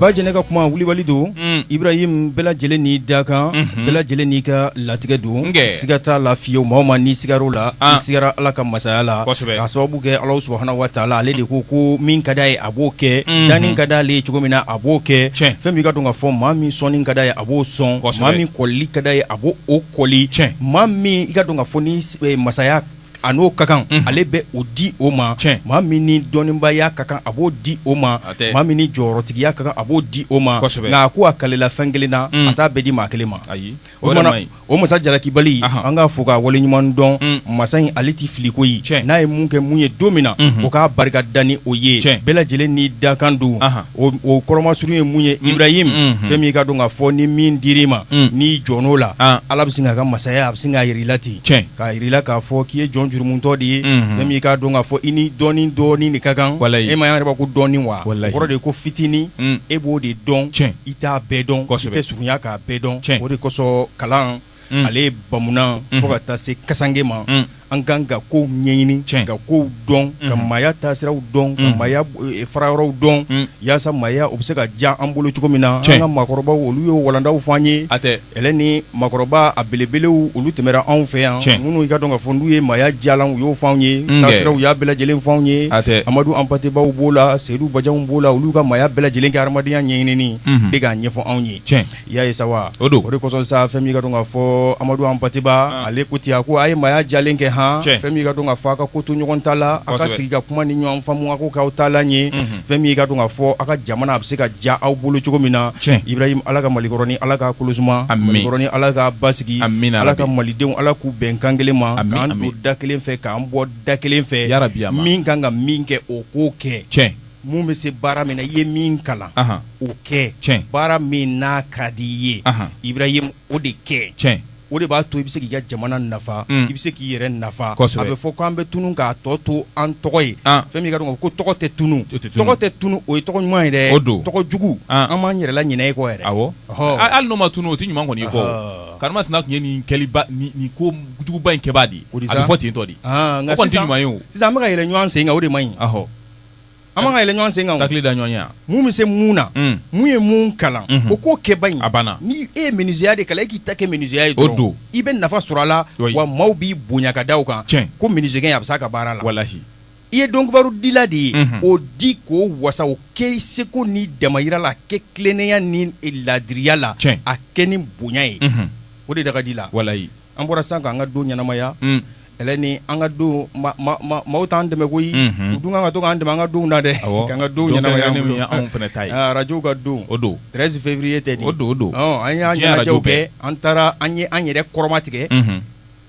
ba jɛnɛ ka kuma wulibali don ibrahim bɛɛ lajɛlen n'i dakan bɛɛ lajɛlen n'i ka latigɛ don siga t'a la fiyewu maa o maa n'i sigar'o la i sigara ala ka masaya la a sababu kɛ ala subhana wa taala ale de ko ko min ka d'a ye a b'o kɛ danni ka d'ale ye cogo min na a b'o kɛ fɛn min i ka dɔn ka fɔ maa min sɔnni ka d'a ye a b'o sɔn maa min kɔli ka d'a ye a b' o kɔli cɛ maa min i ka dɔn ka fɔ ni masaya a n'o ka kan ale bɛ o di o ma maa min ni dɔnnibaya ka kan a b'o di o ma maa min ni jɔyɔrɔtigiya ka kan a b'o di o ma nka a ko a kalela fɛn kelen na a t'a bɛɛ di maa kelen ma ayi o o masa jalaki bali an k'a fo k'a waleɲuman dɔn masa in ale tɛ fili koyi n'a ye mun kɛ mun ye don min na o k'a barika da ni o ye bɛɛ lajɛlen n'i dakan don o kɔrɔma surun ye mun ye ibrahim fɛn min i ka dɔn ka fɔ ni min dir'i ma n'i jɔn'o la ala bɛ sin k'a ka masaya a bɛ sin k'a yira i la ten K'a yira i la k'a fɔ k'i ye jɔn jurumutɔ de ye, unhun, fɛn min i k'a dɔn k'a fɔ i ni dɔɔni dɔɔni de ka kan, walahi, e m'a ye an yɛrɛ b'a fɔ ko dɔɔni wa, walahi, o kɔrɔ de ye ko fitinin, un, e b'o de dɔn, tiɲɛ, i t'a bɛɛ dɔn, kosɛbɛ, i tɛ surunya k'a bɛɛ dɔn, tiɲɛ, o de kosɔn kalan, un, ale ye bamunan, unhun, fo ka taa se kasange ma, un, an ka kan ka kow ɲɛɲini, tiɲɛ, ka kow dɔn, unhun, ka maaya taasiraw dɔn, unhun, ka maaya fara yɔrɔw dɔn, un. Yaasa maaya o bɛ se ka diya an bolo cogo min na cɛn an ka maakɔrɔbaw olu y'o walandaw fɔ an ye hatɛ ale ni maakɔrɔba a belebelew olu tɛmɛra anw fɛ yan cɛn minnu i ka dɔn ka fɔ n'u ye maaya diyalan u y'o fɔ anw ye taasira u y'a bɛɛ lajɛlen fɔ anw ye hatɛ amadu anpatebaw b'o la seyidu bajanw b'o la olu ka maaya bɛɛ lajɛlen kɛ hadamadenya ɲɛɲinini de k'a ɲɛfɔ anw ye cɛn i y'a ye sa wa, o don, o de kosɔn sa fɛn min ka dɔn ka fɔ Amadu Anpateba ale ko ten, a ko a ye maaya diyalan kɛ han, tiɲɛ, fɛn min ka dɔn ka fɔ a ka ko to ɲɔgɔn ta la, kosɛbɛ, a ka sigi ka kuma ni ɲɔgɔnfaamu a k'o k'aw taalan ye, unhun, fɛn min ka dɔn ka fɔ a ka jamana a bɛ se ka diya aw bolo cogo min na, tiɲɛ, Ibrahim Ala ka Mali kɔrɔnin Ala k'a kolo suma, ami, Mali kɔrɔnin Ala k'a basigi, amina yarabi, Ala ka Malidenw Ala k'u bɛn kan kelen ma, ami, ami, k'an don da kelen fɛ k'an bɔ da kelen fɛ, yarabi, min ka kan ka min kɛ o k'o kɛ, tiɲɛ Mun bɛ se baara min na i ye min kalan o kɛ cɛn baara min n'a ka di i ye ibrahim o de kɛ cɛn o de b'a to i bɛ se k'i ka jamana nafa i bɛ se k'i yɛrɛ nafa a bɛ fɔ k' an bɛ tunun k'a tɔ to an tɔgɔ ye fɛn min ka dɔn ko tɔgɔ tɛ tunun tɔgɔ tɛ tunun o ye tɔgɔ ɲuman ye dɛ o don tɔgɔ jugu an b'an yɛrɛ laɲinɛ e kɔ yɛrɛ hali n'o ma tunun o tɛ ɲuman kɔni ko karimasina tun ye nin nin ko juguba in kɛbaa de o fɔ ten tɔ de ɲuman sisan an bɛka ka yɛlɛ ɲɔgɔn sen o de man ɲi an man ka yɛlɛ ɲɔgɔn sen kan o. Takili da ɲɔgɔn ye yan. mun bɛ se mun na Un. mun ye mun kalan Unhun. o k'o kɛ bani A banna. ni e ye menuisierya de kalan e k'i ta kɛ menuisierya ye O dɔrɔn don. i bɛ nafa sɔrɔ a la Oui. wa maaw b'i bonya ka da o kan Tiɲɛ. ko menuisier a bɛ s'a ka baara la Walahi. i ye dɔnkibaru dila de ye Unhun. o di k'o wasa o kɛ i seko n'i damayira la a kɛ tilennenya ni e, laadiriya la Tiɲɛ. a kɛ ni bonya ye Unhun. o de da ka di la Walahi. an bɔra sisan k'an ka don ɲɛnamaya Mm. Kɛlɛ ni an ka don maaw t'an dɛmɛ koyi u dun kan ka to k'an dɛmɛ an ka donw na dɛ k'an ka don anw fana ta ye arajow ka don o don treize février tɛ o don don an y'an ɲɛnajɛw kɛ an taara an ye an yɛrɛ kɔrɔma tigɛ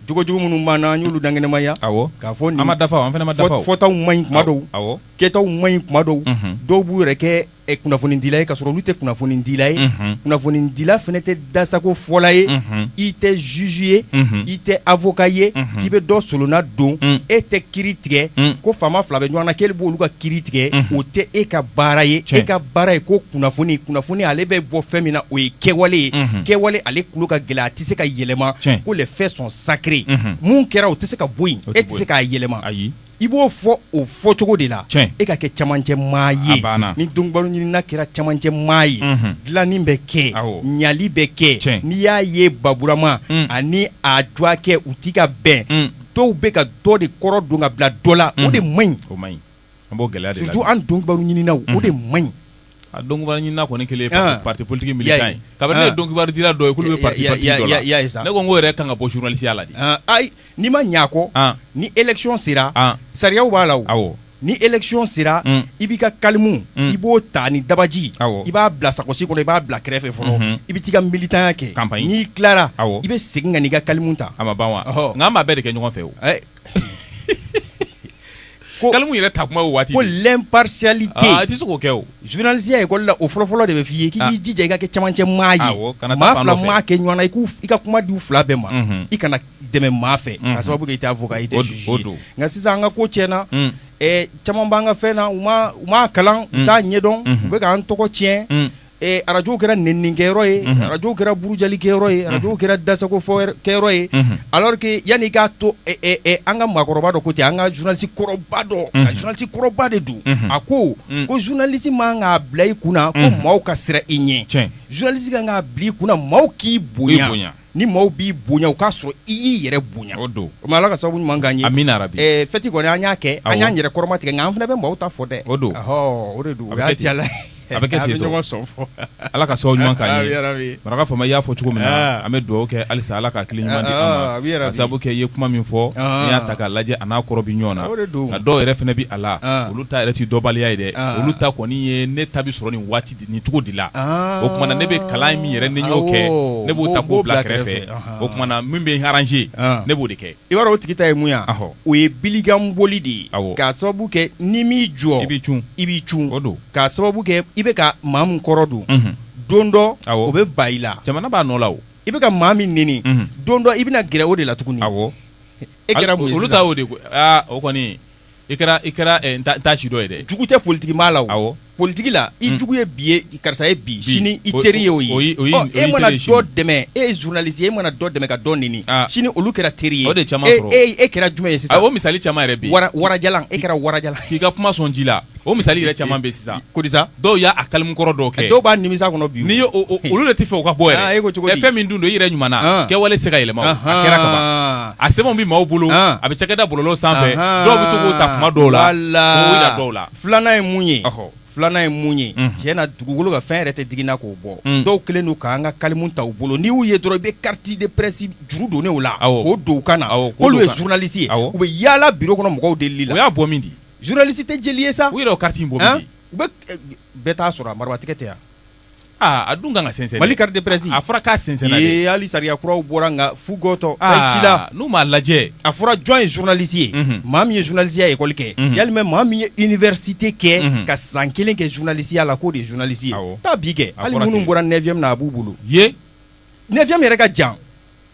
jogo jugu minnu b'an na an y'olu dankɛnɛmaya k'a fɔ ma dafa an fana ma dafa fɔtaw man ɲi kuma dɔw kɛtaw man ɲi kuma dɔw dɔw b'u yɛrɛ kɛ ɛ kunnafonidila ye k'a sɔrɔ olu tɛ kunnafonidila ye, unhun, kunnafonidila fana tɛ dasako fɔla ye, unhun, i tɛ juge ye, unhun, i tɛ avocat ye, unhun, k'i bɛ dɔ solonna don, un, e tɛ kiri tigɛ, un, ko faama fila bɛ ɲɔgɔn na k'e b'olu ka kiri tigɛ, unhun, o tɛ e ka baara ye, tiɲɛ, e ka baara ye ko kunnafoni, kunnafoni ale bɛ bɔ fɛn min na o ye kɛwale ye, unhun, kɛwale ale tulo ka gɛlɛn a tɛ se ka yɛlɛma, tiɲɛ, ko les faits sont sacrés unhun, mun kɛra o tɛ se ka bɔ yen, o tɛ bɔ yen, e tɛ se k'a yɛlɛma, ayi. i b'o fɔ o fɔ cogo de la e ka kɛ camancɛ maa ye ni donkibaru ɲinina kɛra camancɛ maa ye dilanni bɛ kɛ ɲali bɛ kɛ n'i y'a ye baburama ani a dwakɛ u tɛ ka bɛn dɔw bɛ ka dɔ de kɔrɔ don ka bila dɔ la o de man ɲi surtout an donkibaru ɲininaw o de man ɲi A donkibaru ɲinina kɔni kɛlen parti politique militant ye kabini ne ye donkibaru dila dɔ ye k'olu bɛ ye sa ne ko n' yɛrɛ kan ka bɔ journalisteya la dɛ ayi n'i ma ɲɛ a kɔ ni élection sera sariyaw b'a la awɔ ni élection sera i b'i ka kalimu i b'o ta ni dabaji awɔ i b'a bila sakosi kɔnɔ i b'a bila kɛrɛfɛ fɔlɔ i bɛ taa i ka militanya kɛ n'i tilara awɔ i bɛ segin ka n'i ka kalimu ta a ma ban wa nka an b'a bɛɛ de kɛ ɲɔgɔn fɛ Kalimu yɛrɛ ta kuma o waati ko l'impartialité i tɛ se k'o kɛ o journalisteya école la o fɔlɔfɔlɔ de bɛ f'i ye k'i jija i ka kɛ camancɛ maa ye maa fila maa kɛ ɲɔgɔn na i ka kuma di u fila bɛɛ ma i kana dɛmɛ maa fɛ k'a sababu kɛ i tɛ avocat i tɛ juge ye nka sisan an ka ko tiɲɛna caman b'an ka fɛn na u m'a kalan u t'a ɲɛdɔn u bɛ k'an tɔgɔ tiɲɛ Ee arajo kɛra nenini kɛyɔrɔ ye arajo kɛra burujali kɛyɔrɔ ye arajo kɛra dasako fɔ kɛyɔrɔ ye alors que yanni k'a to an ka maakɔrɔba dɔ ko ten an ka journaliste kɔrɔba dɔ journaliste kɔrɔba de don a ko ko journaliste man k'a bila i kunna ko maaw ka siran i ɲɛ journaliste kan k'a bila i kunna maaw k'i bonya ni maaw b'i bonya o k'a sɔrɔ i y'i yɛrɛ bonya o don o ala ka sababu ɲuman k'an ye amiina yarabi fɛti kɔni an y'a kɛ an y'an yɛrɛ kɔrɔma tigɛ nka an fana bɛ maaw ta fɔ dɛ o don o de don la a bɛ kɛ ɲɔgɔn sɔn fɔ ala ka sababu ɲuman k'an ye maraka faama i y'a fɔ cogo min na an bɛ dugawu kɛ halisa ala ka hakili ɲuman di sabu kɛ i ye kuma min fɔ n'i y'a ta k'a lajɛ a n'a kɔrɔ bɛ ɲɔgɔn na nka dɔw yɛrɛ fana bɛ a la olu ta yɛrɛ tɛ dɔnbaliya ye dɛ olu ta kɔni ye ne ta sɔrɔ nin waati nin cogo de la o tuma na ne bɛ kalan min yɛrɛ ni y'o kɛ ne b'o ta k'o bila kɛrɛfɛ o tuma na min bɛ arranger ne b'o de kɛ i b'a dɔn o tigi ta ye mun ye o ye bili kan boli de ye k'a sababu kɛ n'i m'i jɔ i b'i cun o don k'a sababu kɛ i bɛ ka maa min kɔrɔ don don dɔ o bɛ ban i la jamana b'a nɔ la i bɛ ka maa min nɛni don dɔ i bɛna gɛrɛ o de la tuguni e kɛra olu ta o de o kɔni i kɛra i kɛra eh, n t'a- n t'a si dɔ ye dɛ jugu tɛ politiki maa la o Awɔ. politiki la i jugu ye bi ye karisa ye bi sini i O- teri ye o o ye- ye o ye- Ɔ, o ye e mana teri ye dɔ sini. dɛmɛ e ye journaliste ye e mana dɔ dɛmɛ ka dɔ nɛni Ah. sini olu kɛra teri ye O de caman e sɔrɔ. e- e kɛra jumɛn ye a sisan o misali caman yɛrɛ bɛ yen wara warajalan e kɛra warajalan k'i ka kuma sɔn ji la o misali yɛrɛ caman bɛ yen sisan kodisa dɔw y'a kalimu kɔrɔ dɔw kɛ dɔw b'a nimisa kɔnɔ bi n'i olu de t'a fɛ o ka bɔ ah, e fɛn min dun don i yɛrɛ ɲuman ah. kɛwale tɛ se ka yɛlɛma a kɛra kaban a sɛbɛnw bɛ maaw bolo ah. a bɛ cakɛda bɔlɔlɔ sanfɛ dɔw bɛ to k'o ta kuma dɔw la k'o yira dɔw la filanan ye mun ye filanan ye mun ye mhm. tiɲɛ na dugukolo kan fɛn yɛrɛ tɛ digi n na k'o bɔ mm. dɔw kɛlen don k'an ka kalimu ta u bolo n'i y'u ye dɔrɔn i bɛ carte de presse juru donnen o la k'o don u kan na k'olu ye journaliste ye u bɛ yaala biro kɔnɔ mɔgɔw delili la o y'a bɔ min di journaliste tɛ jeli ye sa u yɛrɛ o carte in bɔ min di bɛɛ t'a sɔrɔ a marabatigɛ tɛ yan a dun kan ka sɛnsɛn mali carte de presse a fɔra k'a sɛnsɛn hali sariya kuraw bɔra nka fugtɔ ci la n'u m'a lajɛ a fɔra jɔn ye journaliste ye maa min ye journalisteya école kɛ walima maa min ye université kɛ ka san kelen kɛ journalisteya la k'o de journaliste ye taa bi kɛ hali minnu bɔra neuvième na a b'u bolo ye neuvième yɛrɛ ka jan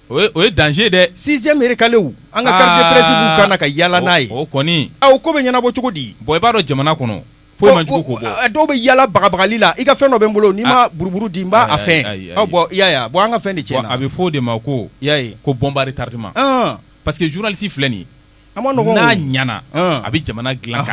o ye danger dɛ sixième yɛrɛ kalaw an ka carte de presse b'u kan na ka yaala n'a ye o kɔni o ko bɛ ɲɛnabɔ cogo di bon i b'a dɔn jamana kɔnɔ foyi man jugu k'o bɔ dɔw bɛ yaala bagabagali la i ka fɛn dɔ bɛ n bolo n'i ma buruburu di n b'a fɛn bɔ an ka fɛn de tiɲɛna a bɛ fɔ o de ma ko ko bombe à retardement parce que journaliste filɛ nin an ma n'a ɲana a bɛ jamana dilan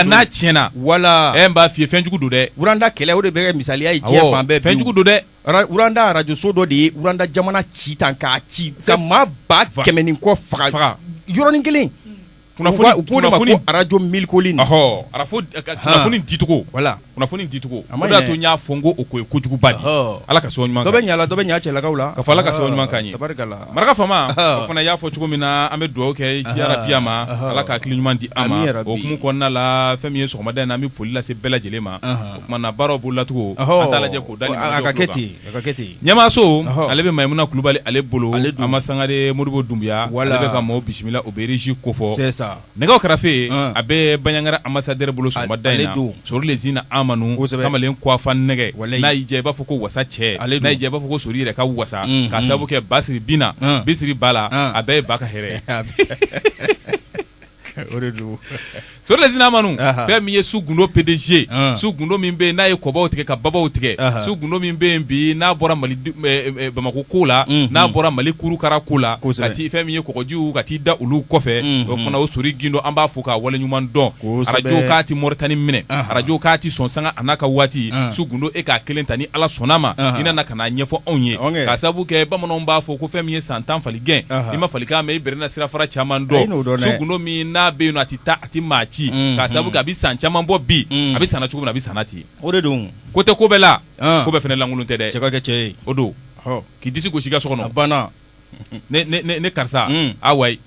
n'a tiɲɛna wala n b'a f'i ye fɛnjugu don dɛ Uranda kɛlɛ o de bɛ misaliya ye diɲɛ fan bɛɛ fɛnjugu don dɛ Uranda arajoso dɔ de ye uranda jamana ci tan k'a ci ka maa ba kɛmɛ ni kɔ faga faga yɔrɔnin kelen kunnafoni arajo mille collines ara kunnafoni dicogo wala kunnafoni dicogo o de y'a to n y'a fɔ ko o ko ye kojuguba de ala ka sɔn dɔ bɛ ɲala dɔ bɛ ɲa cɛlakaw la ka fɔ ala ka sɔn ɲuman ka ɲɛ maraka faama o fana y'a fɔ cogo min na an bɛ dugawu kɛ yarabi ma ala ka hakili ɲuman di an ma o hukumu kɔnɔna la fɛn min ye sɔgɔmada in na an bɛ foli lase bɛɛ lajɛlen ma o tuma na baaraw bolo latugun an t'a lajɛ ɲɛmaaso ale bɛ mayimuna kulubali ale bolo an ma sangare modibo dunbiya ale bɛ ka maaw bisimila o bɛ régie kofɔ nɛgɛw karafe a bɛ baɲangara ambassadeur bolo sɔgɔmada in na sori lezina amadu kamalen kufan nɛgɛ n'a y'i diya i b'a fɔ ko wasa cɛ n'i b'a fɔ ko sori yɛrɛ ka wasa k'a sababu kɛ basiri bina bisiri bala a bɛɛ ye ba ka hɛrɛ o de don sori le sina manu fɛn min ye su gundo pdg su gundo min bɛ n'a ye kɔbaw tigɛ ka babaw tigɛ su gundo min bɛ bi n'a bɔra bamakɔ ko la n'a bɔra mali kurukara ko la ko sati fɛn min ye kɔgɔjiw ka t'i da olu kɔfɛ o fana o sori gindo an b'a fo k'a wale ɲuman dɔn arajo k'a tɛ moritani minɛ arajo k'a tɛ sɔn sanga an ka waati su gundo e k'a kelen ta ni ala sɔnna ma i nana ka n'a ɲɛfɔ anw ye k'a sabu kɛ bamananw b'a fɔ ko fɛn min ye san tan fali gɛn i ma falikan mɛn i bɛrɛ na sirafara caman dɔn su gundo min n'a bɛ yen a tɛ taa a tɛ maa ci k'a sabu kɛ a bɛ san caman bɔ bi a bɛ sanna cogo min na a bɛ sanna ten o de don ko tɛ ko bɛɛ la ko bɛɛ fana lankolon tɛ dɛ cɛ ka kɛ cɛ ye o don k'i disi gosi i ka so kɔnɔ banna ne karisa ayi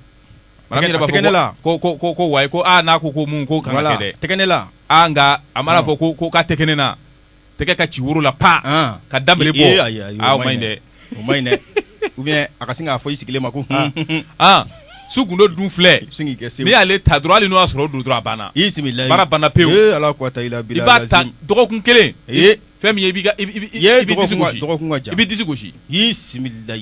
wa tɛgɛ ne la ko ko wa ko n'a ko ko mun ko tɛgɛ ne la nka a mana fɔ ko k'a tɛgɛ ne na tɛgɛ ka ci woro la pa An. ka da bele bɔ Ee, ayi, ayi, o aa o man ɲi dɛ o man ɲi dɛ ou bien a ka sin k'a fɔ i sigilen ma ko hun, hun, hun. ah su gundo dun filɛ sin k'i kɛ sew. n'i y'ale ta dɔrɔn hali n'o y'a sɔrɔ o don dɔrɔn a banna i bisimila baara banna pewu. ee ala ko ta i la i bila b'a ta dɔgɔkun kelen Ee. fɛn min ye i b'i ka i b'i- i b'i- Ye, i b'i disi dɔgɔkun ka- gosi dɔgɔkun ka jan. i b'i disi gosi i bisimila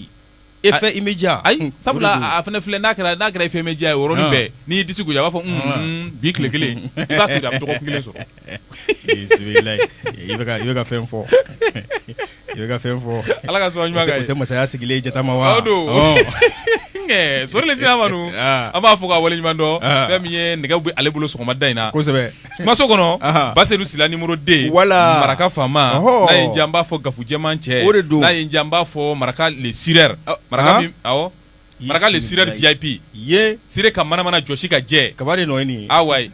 effet immédiat ayi hmm. sabula a fana filɛ n'a kɛra n'a kɛra effet immédiat ye yɔrɔnin ah. bɛɛ n'i y'i disi gosi a b'a fɔ hmm, ah. hmm, bi tile kelen i b'a to yen a bɛ dɔgɔkun kelen sɔrɔ i bɛ ka i bɛ ka fɛn fɔ i bɛ ka fɛn fɔ ala ka sɔn ɲuman ka ye o tɛ masaya sigilen ye jatama wa o don sori le sina manu ah. an b'a fo k'a wale ɲuman dɔn fɛn min ye nɛgɛ bɛ ale bolo sɔgɔmada in na kosɛbɛ kumaso kɔnɔ basedu sila numéro deux wala maraka faama n'a y'an diya an b'a fɔ gafujɛman cɛ o de don n'a y'an diya an b'a fɔ maraka le cireur maraka maraka le cireur vip ye siri ka manamana jɔsi ka jɛ kaba de nɔ ayi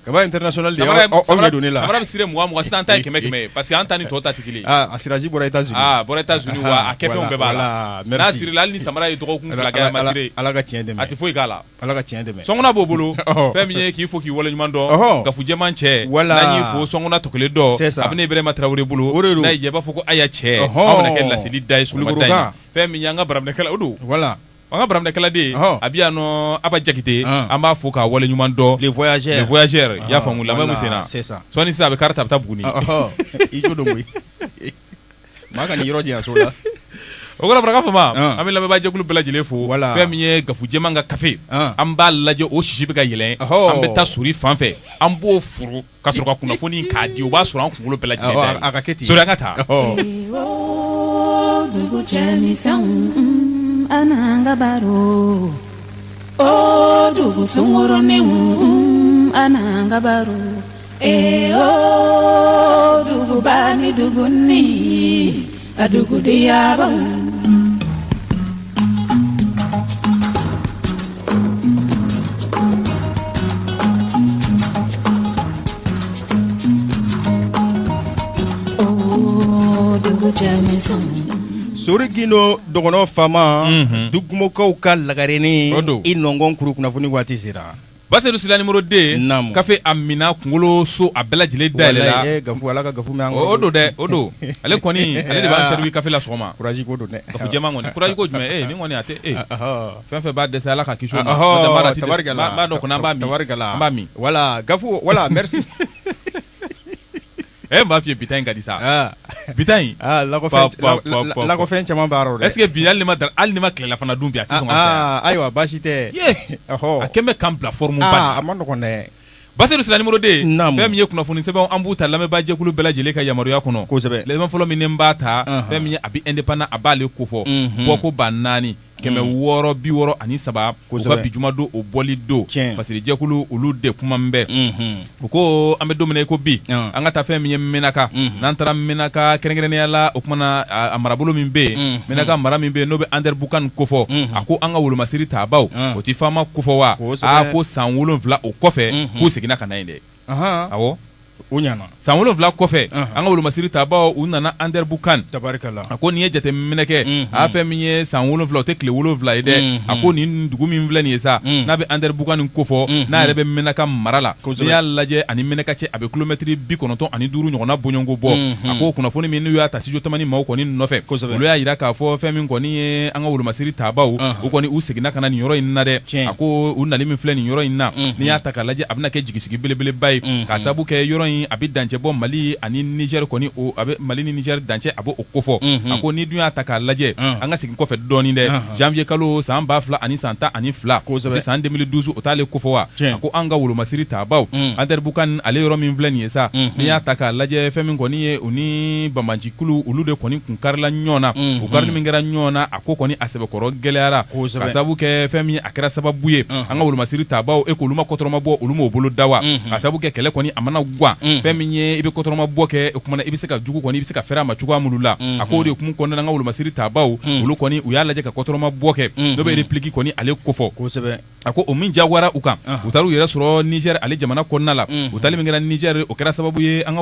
kaba international don aw de la samara bɛ siri mugan sisan an ta kɛmɛ kɛmɛ parce que an ta ni tɔw ta tɛ kelen a siraji bɔra états-unis bɔra états-unis wa a kɛfɛnw bɛɛ b'a la mɛ n'a sirila hali ni samara ye dɔgɔkun ala ka tiɲɛ a tɛ foyi k'a la Ala ka tiɲɛ dɛmɛ sɔnkuna b'o bolo ɔhɔ fɛn min ye k'i fo k'i waleɲuman dɔn ɔhɔ gafujɛman cɛ Voilà n'an y'i fo sɔnkuna tɔ kelen dɔ C'est ça a bɛ ne Ibrahima Traoré bolo o de don n'a y'i diya i b'a fɔ ko aya cɛ ɔhɔɔ anw bɛna kɛ laseli da ye sɔgɔmada in na Kulukoroka fɛn min ye an ka baraminɛkɛla o don voilà an ka baraminɛkɛla de ɔhɔ a bɛ yan nɔ Aba Jakite an an b'a fo k'a waleɲuman dɔn les voyageurs les voyageurs i y'a faamu lamɛn min voilà senna c'est ça sɔɔni sisan a bɛ kari ta a bɛ taa Buguni ɔhɔ i jo don koyi Maa kan'i yɔrɔ janya so la. O kɔrɔ Maraka Fama, an. an bɛ lamɛnbaajɛkulu bɛɛ lajɛlen fo. Wala. Fɛn min ye gafujɛman ka kafe. An. An b'a lajɛ o sisi bɛ ka yɛlɛn. Ɔhɔɔ. An bɛ taa Sori fan fɛ, an b'o furu ka sɔrɔ ka kunnafoni in k'a di, o b'a sɔrɔ an kunkolo bɛɛ lajɛlen dayɛlɛnna. Awɔ, a ka kɛ ten. Sori an ka taa. Ɔhɔɔ. Ewooo dugu cɛmisɛnw un, a n'an ka baro o dugu sunkuruninw un, a n'an ka baro Eyo duguba ni dugunin a dugu diyabaw dugu cɛmisɛnw Sori Gindo dɔgɔnɔ faama dugumɔgɔw ka lagarenin i nɔnkɔn kuru kunnafoni waati sera Basedu Sila numéro 2, naamu, kafe a minna kunkolo so a bɛɛ lajɛlen dayɛlɛla, walahi, ee, Gafu, Ala ka Gafu mɛn an kɔrɔ, o don dɛ, o don, ale kɔni, ale de b'an servir kafe la sɔgɔma, courage ko don dɛ, Gafu jɛman kɔni, courage ko jumɛn, ee, nin kɔni a tɛ ee, ɔhɔ, fɛn o fɛn b'a dɛsɛ Ala k'a kisi o ma, ɔhɔ, tabarikala, n b'a dɔn kɔni an b'a min, tabarikala, an b'a min, voilà, Gafu, voilà, merci ɛ n b'a f'i ye bi ta in ka di sa ah. bi ta in ah, lakɔfɛn caman b'a rɔ dɛ est ce que bi hali n'i ma hali n'i ma tilelafana dun bi a tɛ sɔn ka ah, saya ayiwa baasi tɛ ye a kɛ bɛ k'an bila forme ba la a man nɔgɔn dɛ Basedu Sila numéro 2 naamu fɛn min ye kunnafoni sɛbɛnw an b'u ta lamɛnbaa jɛkulu bɛɛ lajɛlen ka yamaruya kɔnɔ kosɛbɛ sɛbɛn fɔlɔ min ni n b'a ta fɛn min ye a bɛ Indépendant a b'ale kofɔ bɔko ba naani kɛmɛ hmm. wɔɔrɔ bi wɔɔrɔ ani saba u ka bi juma don o bɔli don fasirijɛkulu olu de kuma min bɛɛ hmm. u ko an bɛ don min na i ko bi hmm. an ka taa fɛn min ye Menaka n'an taara Menaka kɛrɛnkɛrɛnnenya la o kumana a marabolo min bɛ yen Menaka mara min bɛ yen n'o bɛ Ander Bukan kofɔ a ko an ka wolomasiri taabaw o tɛ FAMa kofɔ wa a ko san wolonfila o kɔfɛ k'u seginna ka na yen dɛ awɔ o ɲana san wolonfila kɔfɛ an ka wolomasiri taabaw u nana Ander Bukan tabarikala a ko n'i ye jateminɛ kɛ a fɛn min ye san wolonfila o tɛ tile wolonfila ye dɛ a ko nin dugu min filɛ nin ye sa n'a bɛ Ander Bukan kofɔ n'a yɛrɛ bɛ Menaka mara la n'i y'a lajɛ ani Menaka cɛ a bɛ kilomɛtiri bi kɔnɔntɔn ani duuru ɲɔgɔnna bɔɲɔgɔnko bɔ a ko kunnafoni min n'u y'a ta Studio Tamani maaw kɔni nɔfɛ olu y'a jira k'a fɔ fɛn min kɔni ye an ka wolomasiri taabaw u kɔni u seginna ka na nin yɔrɔ in na dɛ a ko u nali min filɛ nin yɔrɔ in na n'i y'a ta k'a lajɛ a bɛna kɛ jigi sigi belebeleba ye mm-hmm. ka sababu kɛ yɔrɔ in a bɛ dancɛ bɔ Mali ani Niger kɔni o a bɛ Mali ni Niger dancɛ a bɛ o kofɔ mm-hmm. a ko n'i dun y'a ta k'a lajɛ mm. an ka segin kɔfɛ dɔɔni dɛ uh-huh. janvier kalo san ba fila ani san tan ani fila kosɛbɛ san 2012 o t'ale kofɔ wa a ko an ka wolomasiri taabaw mm. Ander Bukan ale yɔrɔ min filɛ nin ye sa mm-hmm. n'i y'a ta k'a lajɛ fɛn min kɔni ye u ni banbaanci kulu olu de kɔni kun karila ɲɔgɔn na u karili min kɛra ɲɔgɔn na a ko kɔni a sɛbɛkɔrɔ gɛlɛyara ka sababu kɛ fɛn min a kɛra sababu ye an ka wolomasiri taabaw e k'olu ma kɔtɔrɔma bɔ olu m'o bolo da wa ka sababu kɛ kɛlɛ kɔni a mana gan fɛn min ye i bɛ kɔtɔrɔma bɔ kɛ o kumana i bɛ se ka jugu kɔni i bɛ se ka fɛrɛ a ma cogoya minnu la a k'o de kun kɔnɔna an ka wolomasiri taabaw olu kɔni u y'a lajɛ ka kɔtɔrɔma bɔ kɛ n'o bɛ repli kɔni ale kofɔ kosɛbɛ a ko o min jagoyara u kan u taara u yɛrɛ sɔrɔ Niger ale jamana kɔnɔna la u taali min kɛra Niger o kɛra sababu ye an ka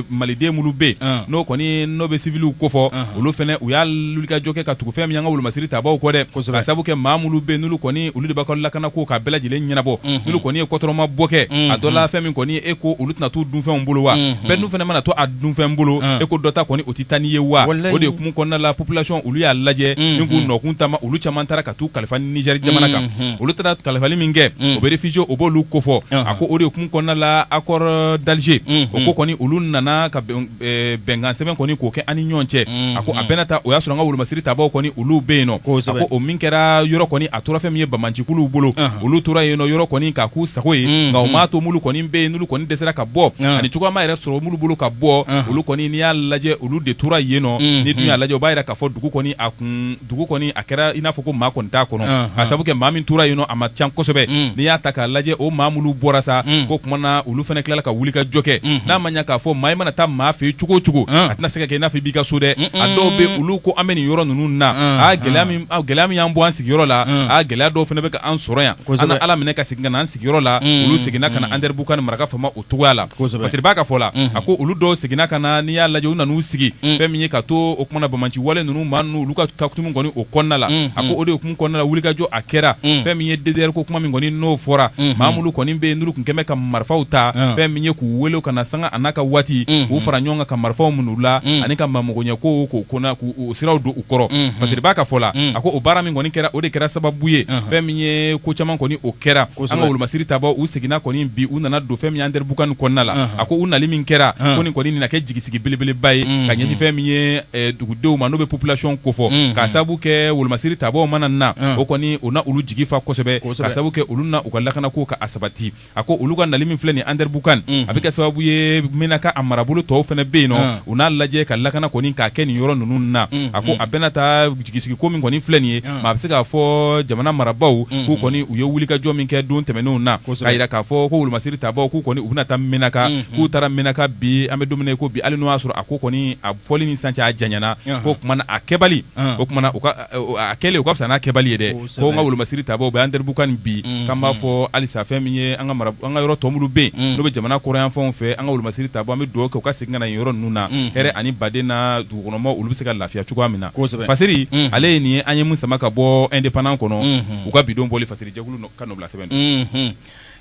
Maliden minnu bɛ yen n'o kɔni n'o bɛ civiliw kofɔ olu fana u y'a wulikajɔ kɛ ka tugu o fɛn min y'an ka wolomasiri tabaaw kɔ dɛ, kosɛbɛ, ka sabu kɛ maa minnu bɛ yen n'olu kɔni olu de b'a ka lakana ko k'a bɛɛ lajɛlen ɲɛnabɔ, unhun, n'olu kɔni ye kɔtɔrɔma bɔ kɛ, unhun, a dɔ la fɛn min kɔni e ko olu tɛna t'u dunfɛnw bolo wa, unhun, fɛn dun fana mana to a dunfɛn bolo, un, e ko dɔ ta kɔni o tɛ taa n'i ye wa, walahi, o de hukumu kɔnɔna la population olu y'a lajɛ, unhun, ni k'u nɔkun taama olu caman taara ka t'u kalifa Niger jamana kan, unhun, olu taara kalifali min kɛ, un, o bɛ réfugiés o b'olu kofɔ, ɔnhɔn, a ko o de hukumu kɔnɔna la accord d'Alger, unhun, o ko kɔni olu nana ka bɛn eh, bɛnkansɛbɛn kɔni k'o kɛ an ni ɲɔgɔn cɛ a ko a mhm. bɛna taa o y'a sɔrɔ an ka wolomasiri tabaaw kɔni olu bɛ yen nɔ a ko o min kɛra yɔrɔ kɔni a tora fɛn min ye banbaancikuluw bolo olu tora yen nɔ yɔrɔ kɔni k'a k'u sago ye mhm. nka o m'a to mulu kɔni bɛ yen n'olu kɔni dɛsɛra ka bɔ ani cogoya ma yɛrɛ sɔrɔ mulu bolo ka bɔ olu kɔni n'i y'a lajɛ olu de tora yen nɔ n'i dun y'a lajɛ o b'a yira k'a fɔ dugu kɔni a kun dugu kɔni a kɛra i n'a fɔ ko maa kɔni t'a kɔnɔ ka sabu kɛ maa min tora yen nɔ a ma ca kosɛbɛ mm. n'i y'a ta k'a lajɛ o maa mulu bɔra sa mm. ko kuma na olu fana tilala ka wuli ka jɔ kɛ mm-hmm. n'a ma ɲɛ k'a fɔ maa i mana taa maa fɛ yen cogo o cogo mm. a tɛna se ka kɛ i n'a fɔ i b'i ka so dɛ a dɔw bɛ olu ko an bɛ nin yɔrɔ ninnu na a gɛlɛya min y'an bɔ an sigiyɔrɔ la a gɛlɛya dɔw fana bɛ ka an sɔrɔ yan an na ala minɛ ka segin ka na an sigiyɔrɔ la olu seginna ka na andɛribukani mara kan faama cogoya la parce que b'a ka fɔ la a ko olu dɔw seginna ka na n'i y'a lajɛ u nan'u sigi fɛn min ye ka to o kumana banbaanci wale ninnu maa ninnu olu ka hukumu kɔni o kɔnɔna la a ko o de hukumu kɔnɔna la wulikajɔ a kɛra fɛn min ye ddr ko kuma min kɔni n'o fɔra maa mulu kɔni bɛ yen n'olu kun kɛmɛ ka marifaw ta fɛn min ye k'u weele ka na sanga a n'a ka waati k'u fara ɲɔgɔn kan ka marifaw min'u la ani ka magoɲɛko k'o ko o siraw don u kɔrɔ parce que b'a ka fɔ la a ko o baara min kɔni kɛra o de kɛra sababu ye fɛn min ye ko caman kɔni o kɛra an ka wolomasiri tabaaw u seginna kɔni bi u nana don fɛn min ye andɛribukani kɔnɔna la a ko u nali min kɛra ko nin kɔni nana kɛ jigisigi belebeleba ye ka ɲɛsin fɛn min ye dugudenw ma n'o bɛ population kofɔ ka sababu kɛ wolomasiri tabaaw mana na o kɔni o na olu jigi fa kosɛbɛ ka sababu kɛ olu na u ka lakana ko ka sabati a ko olu ka nali min filɛ nin andɛribukan a bɛ kɛ sababu ye minaka a marabolo tɔw fana bɛ yen nɔ u n'a lajɛ ka lakana kɔni k'a kɛ nin yɔrɔ ninnu na a ko a bɛna taa jigisigiko min kɔni filɛ nin ye maa a bɛ se k'a fɔ jamana marabaaw k'u kɔni u ye wulikajɔ min kɛ don tɛmɛnenw na k'a yira k'a fɔ ko wolomasiri tabaaw k'u kɔni u bɛna taa minaka k'u taara minaka bi an bɛ don min na ko bi hali n'o y'a sɔrɔ a ko kɔni a fɔli ni sisan cɛ a janyana ko kuma na a kɛbali o kuma na a kɛlen o ka fisa n'a kɛbali ye dɛ ko an ka wolomasiri tabaaw bɛ andɛribukani bi k'an b'a fɔ halisa fɛn min ye an ka yɔrɔ tɔ mulu bɛ yen n'o bɛ jamana kɔrɔnyanfanw fɛ an ka wolomasiri tabaaw an bɛ dugawu kɛ u ka segin ka na yɔrɔ ninnu na hɛrɛ ani baden na dugukɔnɔmɔgɔw olu bɛ se ka lafiya cogoya min na fasiri ale ye nin ye an ye min sama ka bɔ indépendant kɔnɔ u ka bidon bɔli fasiri jɛkulu ka nɔbila sɛbɛn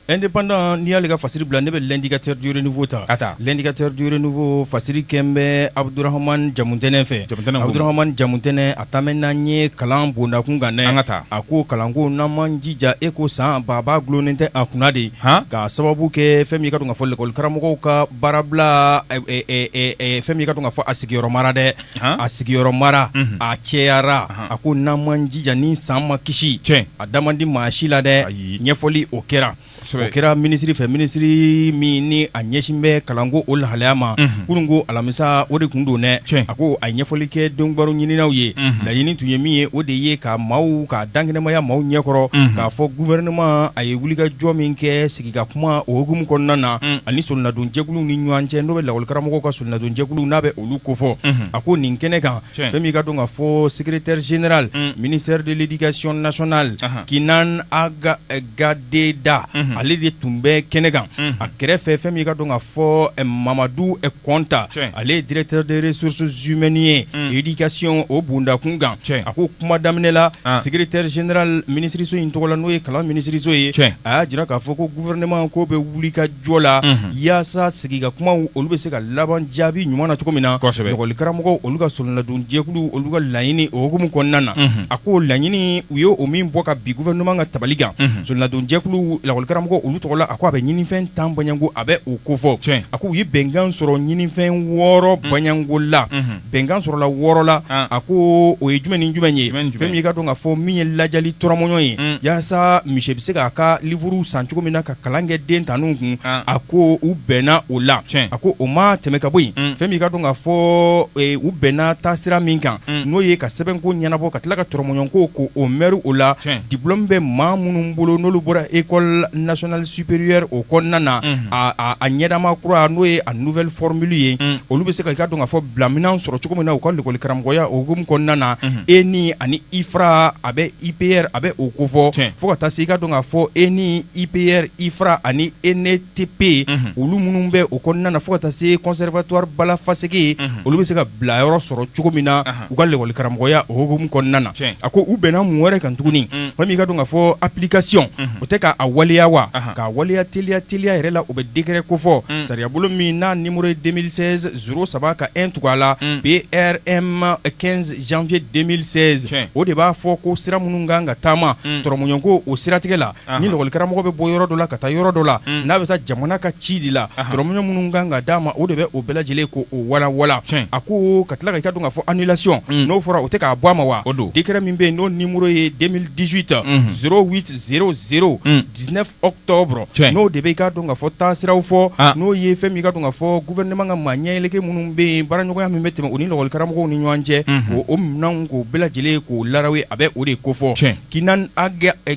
indépendant n'i y'ale ka fasiri bila ne bɛ l'indicateur du renouveau ta a taa l'indicateur du renouveau fasiri kɛlen bɛ abdurahman jamutɛnɛ fɛ abdurahman jamutɛnɛ a taamɛ n'an ye kalan bondakun kan an ka taa a ko kalanko n'an m'an jija eko san baba dulonnen tɛ a kunna de ka sababu kɛ fɛn min ye k'a dɔn k'a fɔ lakɔlikaramɔgɔw ka baarabila fɛn min ye k'a dɔn k'a fɔ a sigiyɔrɔma dɛ a sigiyɔrɔ mara a cɛyara a ko n'an m'an jija ni san ma kisi a da man di maa si la dɛ ɲɛfɔli o kɛra o kɛra minisiri fɛ minisiri min ni a ɲɛsin bɛ kalanko o lahalaya ma kunun ko alamisa o de kun don dɛ a ko a ye ɲɛfɔli kɛ donkibaru ɲininaw ye laɲini tun ye min ye o de ye ka maaw ka dankɛnɛmaya maaw ɲɛkɔrɔ k'a fɔ gouvernement a ye wulikajɔ min kɛ sigi i ka kuma o hukumu kɔnɔna na ani solonadonjɛkulu ni ɲɔgɔn cɛ n'o bɛ lakɔlikaramɔgɔ ka solonadonjɛkulu n'a bɛ olu kofɔ a ko nin kɛnɛ kan fɛn min ka dɔn ka fɔ secrétaire général ministère de l'éducation nationale Kinane Ag Gadeda ale de tun bɛ kɛnɛ kan a kɛrɛfɛ fɛn min ka dɔn ka fɔ mamadu kɔnta ale ye directeur des ressources humaines ye éducation o bondakun kan a ko kuma daminɛ la secrétaire général minisiriso in tɔgɔ la n'o ye kalan minisiriso ye a y'a jira k'a fɔ ko gouvernement ko bɛ wulikajɔ la yaasa sigi ka kuma olu bɛ se ka laban jaabi ɲuman na cogo min na lakɔlikaramɔgɔ olu ka solonadonjɛkulu olu ka laɲini o hukumu kɔnɔna na a ko laɲini u ye o min bɔ ka bi gouvernement ka tabali kan solonadonjɛkulu lakɔlikaramɔgɔ olu tɔgɔ la a ko a bɛ ɲinifɛn tan bɔɲɔgɔnko a bɛ o kofɔ a k'u ye bɛnkan sɔrɔ ɲinifɛn wɔɔrɔ bɔɲɔgɔnko la bɛnkan sɔrɔla wɔɔrɔ la a ko o ye jumɛn ni jumɛn ye fɛn min i ka dɔn ka fɔ min ye lajali tɔrɔmɔɲɔ ye yaasa monsieur bɛ se k'a ka livre san cogo min na ka kalan kɛ den tan ninnu kun a ko u bɛnna o la a ko o ma tɛmɛ ka bɔ yen fɛn min i ka dɔn ka fɔ u bɛnna taasira min kan n'o ye ka sɛbɛnko ɲɛnabɔ ka tila ka tɔrɔmɔɲɔko k'o mɛri o la diplôme bɛ maa minnu bolo n'olu bɔra école nationale supérieure o kɔnɔna na a ɲɛdama kura n'o ye a nouvelle formule ye olu bɛ se ka i ka dɔn ka fɔ bilaminɛ sɔrɔ cogo min na u ka lɛkɔli karamɔgɔya o hukumu kɔnɔna na ENI ani IFRA a bɛ IPR a bɛ o kofɔ fo ka taa se i ka dɔn ka fɔ ENI IPR IFRA ani ENETP olu minnu bɛ o kɔnɔna na fo ka taa se conservatoire Balla Fasséké olu bɛ se ka bila yɔrɔ sɔrɔ cogo min na u ka lɛkɔli karamɔgɔya o hokumu kɔnɔna na tiɲɛ a ko u bɛnna mun wɛrɛ kan tuguni Mm. fɛn min ka dɔn ka fɔ application o tɛ k'a waleya wa Ahan. k'a waleya teliya teliya yɛrɛ la o bɛ décret kofɔ Mm. sariyabolo min n'a numéro ye 2016 03 ka 1 tugu a la Mm. PRM 15 janvier 2016 Tiɲɛ. o de b'a fɔ ko sira minnu kan ka taama Mm. tɔrɔmɔɲɔnko o siratigɛ la ni lakɔlikaramɔgɔ bɛ bɔ yɔrɔ dɔ la ka taa yɔrɔ dɔ la n'a bɛ taa jamana ka ci de la tɔrɔmɔɲɔ minnu kan ka d'a ma o de bɛ o bɛɛ lajɛlen k'o walawala a ko ka tila ka i ka dɔn ka fɔ annulation n'o fɔra o tɛ k'a bɔ a ma wa o don décret min bɛ yen n'o numéro ye 2018 0800 19 octobre n'o de bɛ i ka dɔn ka fɔ taasiraw fɔ n'o ye fɛn min i ka dɔn ka fɔ gouvernement ka maa ɲɛɛlɛge minnu bɛ yen baaraɲɔgɔnya min bɛ tɛmɛ u ni lakɔlikaramɔgɔw ni ɲɔgɔn cɛ o minɛn k'o bɛɛ lajɛlen k'o lawo a bɛ o de kofɔ Kinan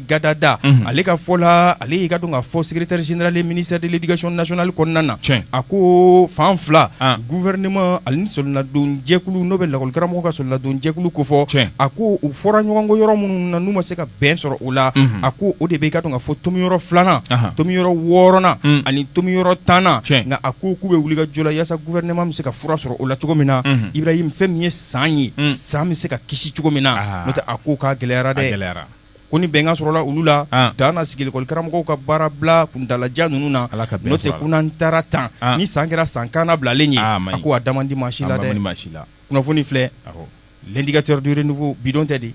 Gadada ale ka fɔ la ale y'i k'a dɔn k'a fɔ secrétaire général ministère de l'éducation nationale kɔnɔna na a ko fan fila gouvernement ani sɔlɔnadonjɛkulu n'o bɛ lakɔlikaramɔgɔw ka sɔlɔnadonjɛkulu kofɔ a ko u fɔra ɲɔgɔn kɔ yɔrɔ minnu na n'u ma se ka bɛn sɔrɔ u la a ko o de bɛ i k'a dɔn k'a fɔ tomi yɔrɔ filanan tomi yɔrɔ wɔɔrɔnan ani tomi yɔrɔ tannan nka a ko k'u bɛ wulikajɔ la yasa gouvernement bɛ se ka fura sɔrɔ o la cogo min na Ibrahim fɛn min ye san ye san bɛ se ka kisi cogo min na n'o tɛ a ko k'a gɛlɛyara dɛ, a gɛlɛyara, ko ni bɛnkan sɔrɔla olu la, an, dan na sigi lakɔlikaramɔgɔw ka baarabila kuntaalajan ninnu na, Ala ka bɛn to a la, n'o tɛ ko n'an taara tan, an, ni san kɛra san kannabilalen ye, a maɲi, a ko a da man di maa si la dɛ, a man di maa si la, kunnafoni filɛ, awɔ, l'indicateur du renouveau bidon tɛ de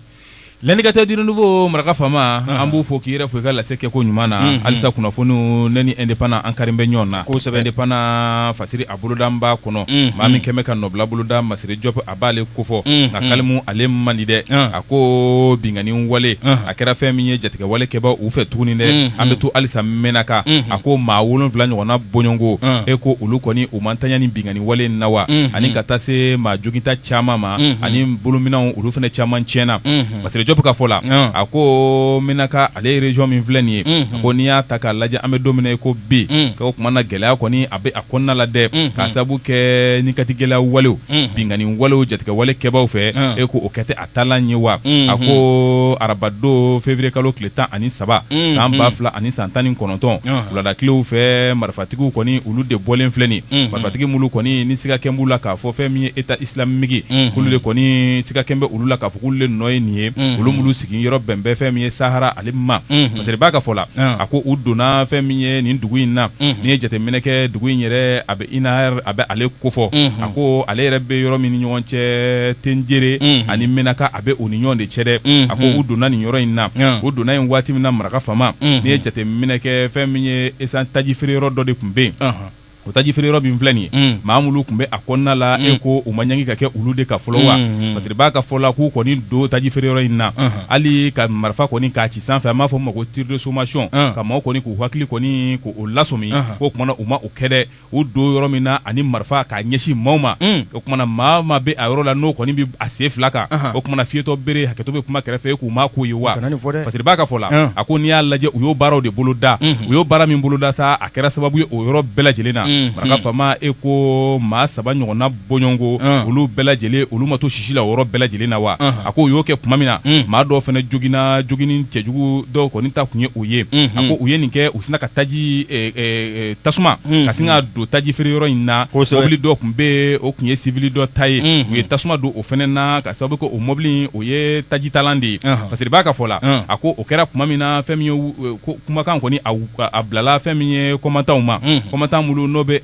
L'indicateur du renouveau maraka faama, an b'u fo k'i yɛrɛ fo i ka lase kɛko ɲuman na, unhun, halisa kunnafoniw ne ni indépendant an kari bɛ ɲɔgɔn na, kosɛbɛ, indépendant fasiri a boloda n b'a kɔnɔ, unhun, maa min kɛn bɛ ka nɔbila boloda Masire Jɔpu a b'ale kofɔ Unhun. nka kalimu ale man di dɛ An. a ko binkanni wale Anhan. a kɛra fɛn min ye jatigɛwale kɛbaaw fɛ tuguni dɛ Unhun. an bɛ to halisa Menaka Unhun. a ko maa wolonwula ɲɔgɔnna bɔɲɔgɔnko An. e ko olu kɔni u ma ntanya ni binkanni wale in na wa Unhun. ani ka taa se maa joginta caman ma Unhun. ani bolominɛnw olu fana caman tiɲɛna Unhun. Masire Jɔpu ka fɔ la An. a ko Menaka ale région min filɛ nin ye Unhun. a ko n'i y'a ta k'a lajɛ an bɛ don min na i ko bi Un. k'o kuma na gɛlɛya kɔni a bɛ a kɔnɔna la dɛ Unhun. k'a sabu kɛ ni kati gɛlɛya walew binkanni walew jatigɛwale kɛbaaw fɛ e ko o kɛ tɛ a taalan ye wa a ko arabadon février kalo tile tan ani saba san ba fila ani san tan ni kɔnɔntɔn wuladatilew fɛ marifatigiw kɔni olu de bɔlen filɛ nin ye marifatigi mulu kɔni ni siga kɛn b'u la k'a fɔ fɛn min ye État islamique k'olu de kɔni siga kɛn bɛ olu la k'a fɔ k'olu de nɔ ye nin ye olu mulu sigiyɔrɔ bɛ bɛn fɛn min ye Sahara ale ma parce que b'a ka fɔ la a ko u donna fɛn min ye nin dugu in na n'i ye jateminɛ kɛ dugu in yɛrɛ Inar a bɛ ale kofɔ a ko ale yɛrɛ bɛ yɔrɔ min ni ɲɔgɔn cɛ Tenjere ani Menaka a bɛ o ni ɲɔgɔn de cɛ dɛ a ko u donna nin yɔrɔ in na u donna yen waati min na maraka faama n'i ye jateminɛ kɛ fɛn min ye essence taji feere yɔrɔ dɔ de tun bɛ yen o taji feere yɔrɔ min filɛ nin ye maa mulu tun bɛ a kɔnɔna la e ko u ma ɲangi ka kɛ olu de kan fɔlɔ wa parce que b'a ka fɔ la k'u kɔni don taji feere yɔrɔ in na hali ka marifa kɔni k'a ci sanfɛ an b'a fɔ o ma ko tir de sommation ka maaw kɔni k'u hakili kɔni k'u lasɔmi k'o kuma na u ma kɛ dɛ u don yɔrɔ min na ani marifa k'a ɲɛsin maaw ma mm. o kuma na maa maa bɛ a yɔrɔ la n'o kɔni bɛ a sen fila kan o kuma na fiyetɔ bere hakɛto bɛ kuma kɛrɛfɛ k'u ma k'o ye wa parce que b'a ka fɔ la ah. a ko n'i y'a lajɛ u y'o baaraw de boloda mm-hmm. u y'o baara min boloda sa a kɛra sababu ye o yɔrɔ bɛɛ lajɛlen na mm-hmm. maraka faama e ko maa saba ɲɔgɔnna bɔɲɔgɔnko ah. olu bɛɛ lajɛlen olu ma to sisi la o yɔrɔ bɛɛ lajɛlen na wa ah. a ko u y'o kɛ tuma min na hmm. maa dɔw fana joginna jogini cɛjugu dɔw kɔni ta tun ye o ye hmm. a ko u ye nin kɛ u sina ka taji eh, eh, eh, tasuma hmm. ka sin ka don taji feere yɔrɔ in na mɔbili dɔ tun bɛ o tun ye sivili dɔ ta ye u ye tasuma don o fana na ka sababu kɛ o mɔbili o ye tajitalan de ye ah. parce que b'a ka fɔ la a ko o kɛra tuma min na fɛn min ye kumakan kɔni a a bilala fɛn min ye kɔmatanw ma kɔmatan minnu n'o bɛ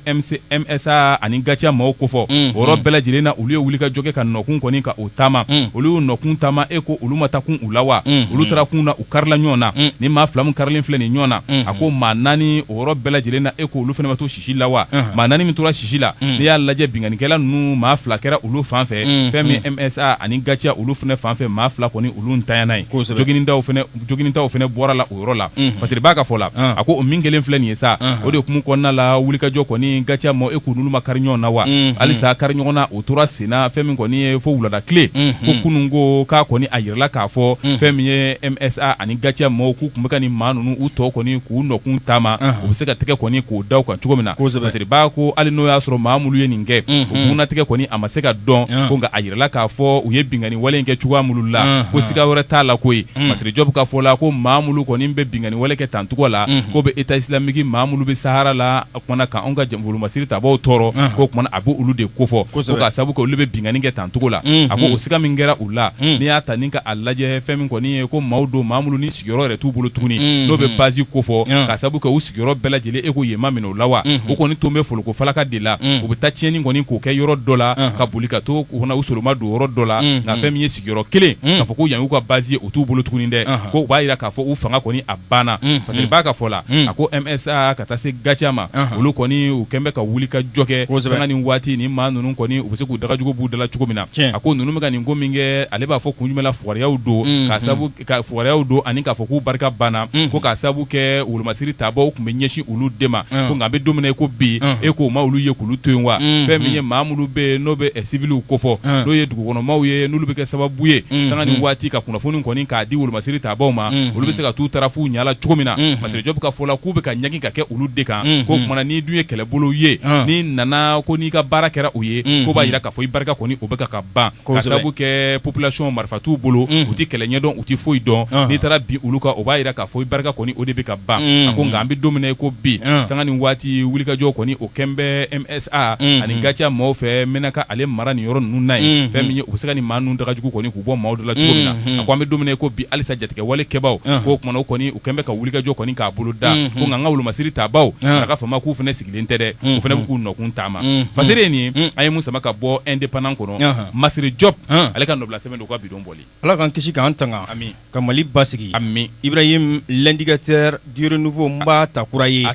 MSA ani GATIA maaw kofɔ o bɛɛ lajɛlen na olu ye wulikajɔ kɛ ka nɔkun kɔni ka o taama olu y'u nɔkun taama e ko olu ma taa kun u la wa olu taara kun na u karila ɲɔgɔn na ni maa fila min karilen filɛ nin ɲɔgɔn na a ko maa naani o bɛɛ lajɛlen na e ko olu fana ma to sisi la wa maa naani min tora sisi la n'i y'a lajɛ binkanikɛla ninnu maa fila kɛra olu fan fɛ fɛn min MSA ani GATIA olu fana fanfɛ maa fila kɔni olu ntanyana e ko joginidaw fana bɔra la yɔrɔ la parce que b'a ka fɔ la a ko o min kɛlen filɛ nin ye sa o de hukumu kɔnɔna la wulikajɔ kɔni GATIA ma e k'u n'olu ma kari ɲɔgɔn na wa halisa kari ɲɔgɔn na o tora senna fɛn min kɔni ye fo wulada tile fo kunun ko k'a kɔni a yirala k'a fɔ fɛn min ye MSA ani GATIA maaw k'u tun bɛ ka nin maa ninnu u tɔ kɔni k'u nɔkun taama u bɛ se ka tɛgɛ kɔni k'o da u kan cogo min na parce que b'a ko hali n'o y'a sɔrɔ maa minnu ye nin kɛ o bugunnatigɛ kɔni a ma se ka dɔn ko nka a yirala k'a fɔ u ye binkanni wale in kɛ cogoya minnu la ko siga wɛrɛ t'a la koyi Masire Diop ka fɔ la ko maa minnu kɔni bɛ binkanni wale kɛ tancogo la ko bɛ État islamique maa minnu bɛ sahara la ko kumana kan anw ka wolomasiri tabaaw tɔɔrɔ ko kumana a b'olu de kofɔ k'a sababu kɛ olu bɛ binkanni kɛ tancogo la a ko o siga min kɛra u la n'i y'a ta ni k'a lajɛ fɛn min kɔni ye ko maaw don maa minnu ni sigiyɔrɔ yɛrɛ t'u bolo tuguni n'o bɛ base kofɔ k'a sababu kɛ u sigiyɔrɔ bɛɛ lajɛlen e ko yen ma minɛ u la wa u kɔni tun bɛ folokofalaka de la u bɛ taa tiɲɛni kɔni k'o kɛ yɔrɔ dɔ la ka boli ka to u soloma don yɔrɔ dɔ la nka fɛn min ye sigiyɔrɔ kelen k'a fɔ ko yan y'u ka base ye o t'u bolo tuguni dɛ ko u b'a jira k'a fɔ u fanga kɔni a banna parce que b'a ka fɔ la a ko MSA ka taa se GATIA ma olu kɔni u kɛlen bɛ ka wulikajɔ kɛ sanga ni waati ni maa ninnu kɔni u bɛ se k'u dagajugu b'u dala cogo min na a ko ninnu bɛ ka nin ko min kɛ ale b'a fɔ kun jumɛn la fugariyaw don k'a sabu ka fugariyaw don ani k'a fɔ k'u barika banna mhm. ko k'a sabu kɛ wolomasiri tabaaw tun bɛ ɲɛsin olu de ma mhm. ko nka an bɛ don min na i ko bi mhm. e k'o ma olu ye k'olu to yen wa fɛn min ye maa minnu bɛ yen n'o bɛ siviliw kofɔ n'o ye dugukɔnɔmaw ye n'olu bɛ kɛ sababu ye sanga ni waati ka kunnafoni kɔni k'a di wolomasiri tabaaw ma olu bɛ se ka t'u tarafu ɲala cogo min na Masire Diop ka fɔ la k'u bɛ ka ɲagi ka kɛ olu de kan ko kumana n'i dun ye kɛlɛbolo ye n'i nana ko n'i ka baara kɛra o ye ko b'a jira k'a fɔ i barika kɔni o bɛ ka ka ban k'a sabu kɛ population marifa t'u bolo u tɛ kɛlɛ ɲɛdɔn u tɛ foyi dɔn n'i taara bin olu kan o b'a jira k'a fɔ i barika kɔni o de bɛ ka ban a ko nka an bɛ don min na i ko bi sanga ni waati wulikajɔ kɔni o kɛn bɛ MSA ani GATIA maaw fɛ Menaka ale mara nin yɔrɔ ninnu na yen fɛn min ye u bɛ se ka nin maa ninnu daga jugu kɔni k'u bɔ maaw da la cogo min na a ko an bɛ don min na i ko bi halisa jatigɛwale kɛbaaw ko kumana u kɔni u kɛn bɛ ka wulikajɔ kɔni k'a bolo da ko nka an ka wolomasiri tabaaw a ka FAMa k'u fana nin tɛ dɛ o fana bɛ k'u nɔkun taama fasiri ye nin ye an ye mun sama ka bɔ indépendant kɔnɔ masiri jɔp ale ka nɔbila sɛbɛn don ka bi don bɔli ala k'an kisi k'an tanga ka mali basigi amiina ibrahim l'indicateur du renouveau n b'a ta kura ye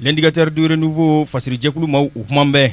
l'indicateur du renouveau fasiri jɛkulu maaw kuma bɛɛ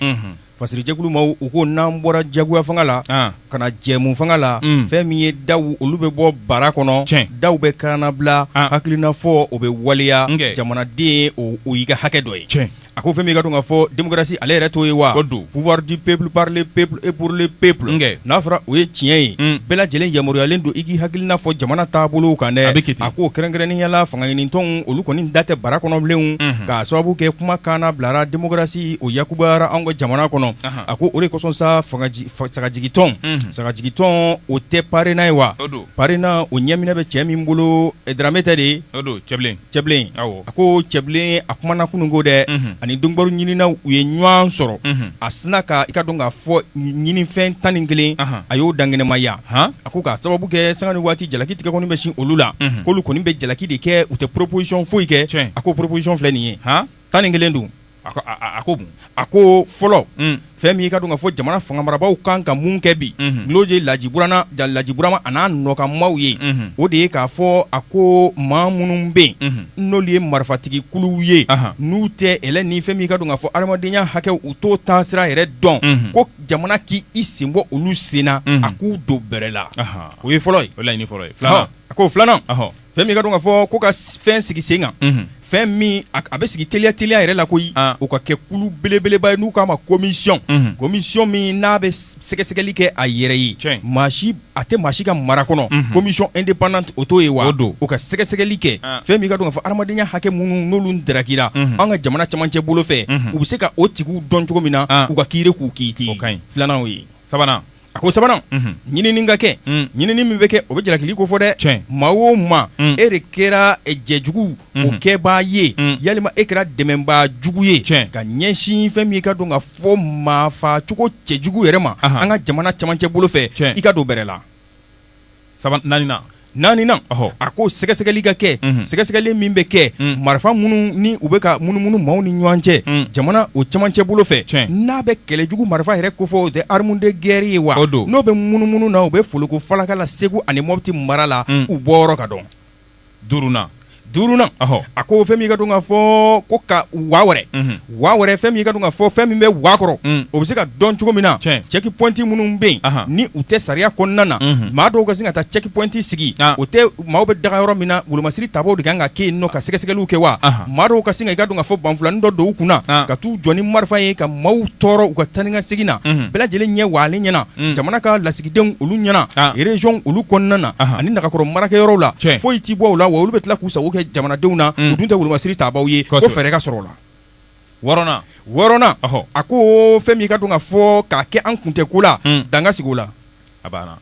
Fasiri jɛkulu maaw u ko n'an bɔra jagoya fanga la ka na jɛmu fanga la fɛn min ye daw olu bɛ bɔ bara kɔnɔ cɛn daw bɛ kannabila hakilina fɔ o bɛ waleya jamanaden o y'i ka hakɛ dɔ ye cɛn a ko fɛn min i k'a dɔn k'a fɔ démocratie ale yɛrɛ t'o ye wa don pouvoir du peuple par le peuple et pour le peuple n'a fɔra o ye tiɲɛ ye bɛɛ lajɛlen yamaruyayalen don i k'i hakilina fɔ jamana taabolo kan dɛ a bɛ a ko kɛrɛnkɛrɛnnenya la fangaɲinitɔnw olu kɔni da tɛ bara kɔnɔ bilen k'a sababu kɛ kuma kannabilara démocratie ni o yakubara an ka jamana kɔnɔ a ko o de kosɔn sa sagajigi tɔn sagajigi tɔn o tɛ parena ye wa parena o ɲɛminɛ bɛ cɛ min bolo dramé tɛ dɛ cɛbilen a ko cɛbilen a kumana kunun ko dɛ ani donkibaru ɲininaw ye ɲɔgɔn sɔrɔ a sinna ka i k'a dɔn k'a fɔ ɲininfɛn tan ni kelen a y'o dankɛnɛmaya a ko k'a sababu kɛ sanga ni waati jalaki tigɛkɔni bɛ sin olu la k'olu kɔni bɛ jalaki de kɛ u tɛ proposition foyi kɛ a ko proposition filɛ nin ye tan ni kelen don A ko a ko fɔlɔ fɛn min' ka don ka fɔ jamana fanga marabaaw kan ka mun kɛ bi n'o de ye laji laji burama ani a nɔkanmaaw ye o de ye k'a fɔ a ko maa minnu bɛ yen n'olu ye marifatigi kuluw ye n'u tɛ e ni fɛn min i k'a dɔn k'a fɔ hadamadenya hakɛw u t'o taasira yɛrɛ dɔn ko jamana k'i sen bɔ olu sen na a k'u don bɛrɛ la o ye fɔlɔ ye fɔlɔ a ko filanan Fɛn min k'a dɔn k'a fɔ ko ka fɛn sigi sen kan fɛn min a bɛ sigi teliya teliya yɛrɛ la koyi o ka kɛ kulu belebeleba ye n'u k'a ma commission commission min n'a bɛ sɛgɛsɛgɛli kɛ a yɛrɛ ye maa si a tɛ maa si ka mara kɔnɔ commission indépendante o t'o ye wa don o ka sɛgɛsɛgɛli kɛ fɛn min k'a dɔn k'a fɔ hadamadenya hakɛ minnu n'olu darakira an ka jamana camancɛ bolo fɛ u bɛ se ka o tigiw dɔn cogo min na u ka kiiri k'u kiiti filanan o ye sabanan A ko sabanan ɲinini ka kɛ ɲinini min bɛ kɛ o bɛ jalakili kofɔ dɛ maa o maa e de kɛra jɛjugu o kɛbaa ye yalima e kɛra dɛmɛbaa jugu ye ka ɲɛsin fɛn min i k'a dɔn k'a fɔ maafacogo cɛjugu yɛrɛ ma an ka jamana camancɛ bolo fɛ i ka don bɛrɛ la saba naaninan naaninan ɔhɔ a ko sɛgɛsɛgɛli ka kɛ mhm. sɛgɛsɛgɛli min bɛ kɛ mm. marifa minnu ni u bɛ ka munumunu maaw ni ɲɔgɔn cɛ mm. jamana o camancɛ bolo fɛ n'a bɛ kɛlɛ jugu marifa yɛrɛ kofɔ o tɛ arme de guerre ye wa n'o bɛ munumunu na u bɛ foloko falaka la segu ani mɔbiti mara la mm. u bɔyɔrɔ ka dɔn duurunna duurunna ɔhɔ a ko fɛn min ka dɔn ka fɔ ko ka waa wɛrɛ unhun waa wɛrɛ fɛn min ka dɔn ka fɔ fɛn min bɛ waa kɔrɔ Mm. o bɛ se ka dɔn cogo min na Tiɲɛ. check point minnu bɛ yen Ahan. ni u tɛ sariya kɔnɔna na Mhm. maa dɔw ka sin ka taa check point sigi Ah. o tɛ maaw bɛ daga yɔrɔ min na wolomasiri tabaw de kan ka kɛ yen nɔ ka sɛgɛsɛgɛliw kɛ wa Ahan. maa dɔw ka sin ka i ka dɔn ka fɔ banfulanin dɔ don u kunna Ah. ka t'u jɔ ni marifa ye ka maaw tɔɔrɔ u ka taa ni ka segin na Mhm. bɛɛ lajɛlen ɲɛ waalen ɲɛna Mm. jamana ka lasigi denw olu ɲɛna ah. région olu kɔnɔna na ani nagakɔrɔ marakɛyɔrɔw la foyi ti bɔ u la wa olu bɛ tila k'u sago kɛ jamanadenw na hmm. u dun tɛ wolomasiri tabaw ye ko fɛɛrɛ ka sɔrɔ o la wɔɔrɔnan wɔɔrɔnan a ko fɛn min ka dɔn ka fɔ k'a kɛ an kun tɛ ko la hmm. dan ka sigi o la a banna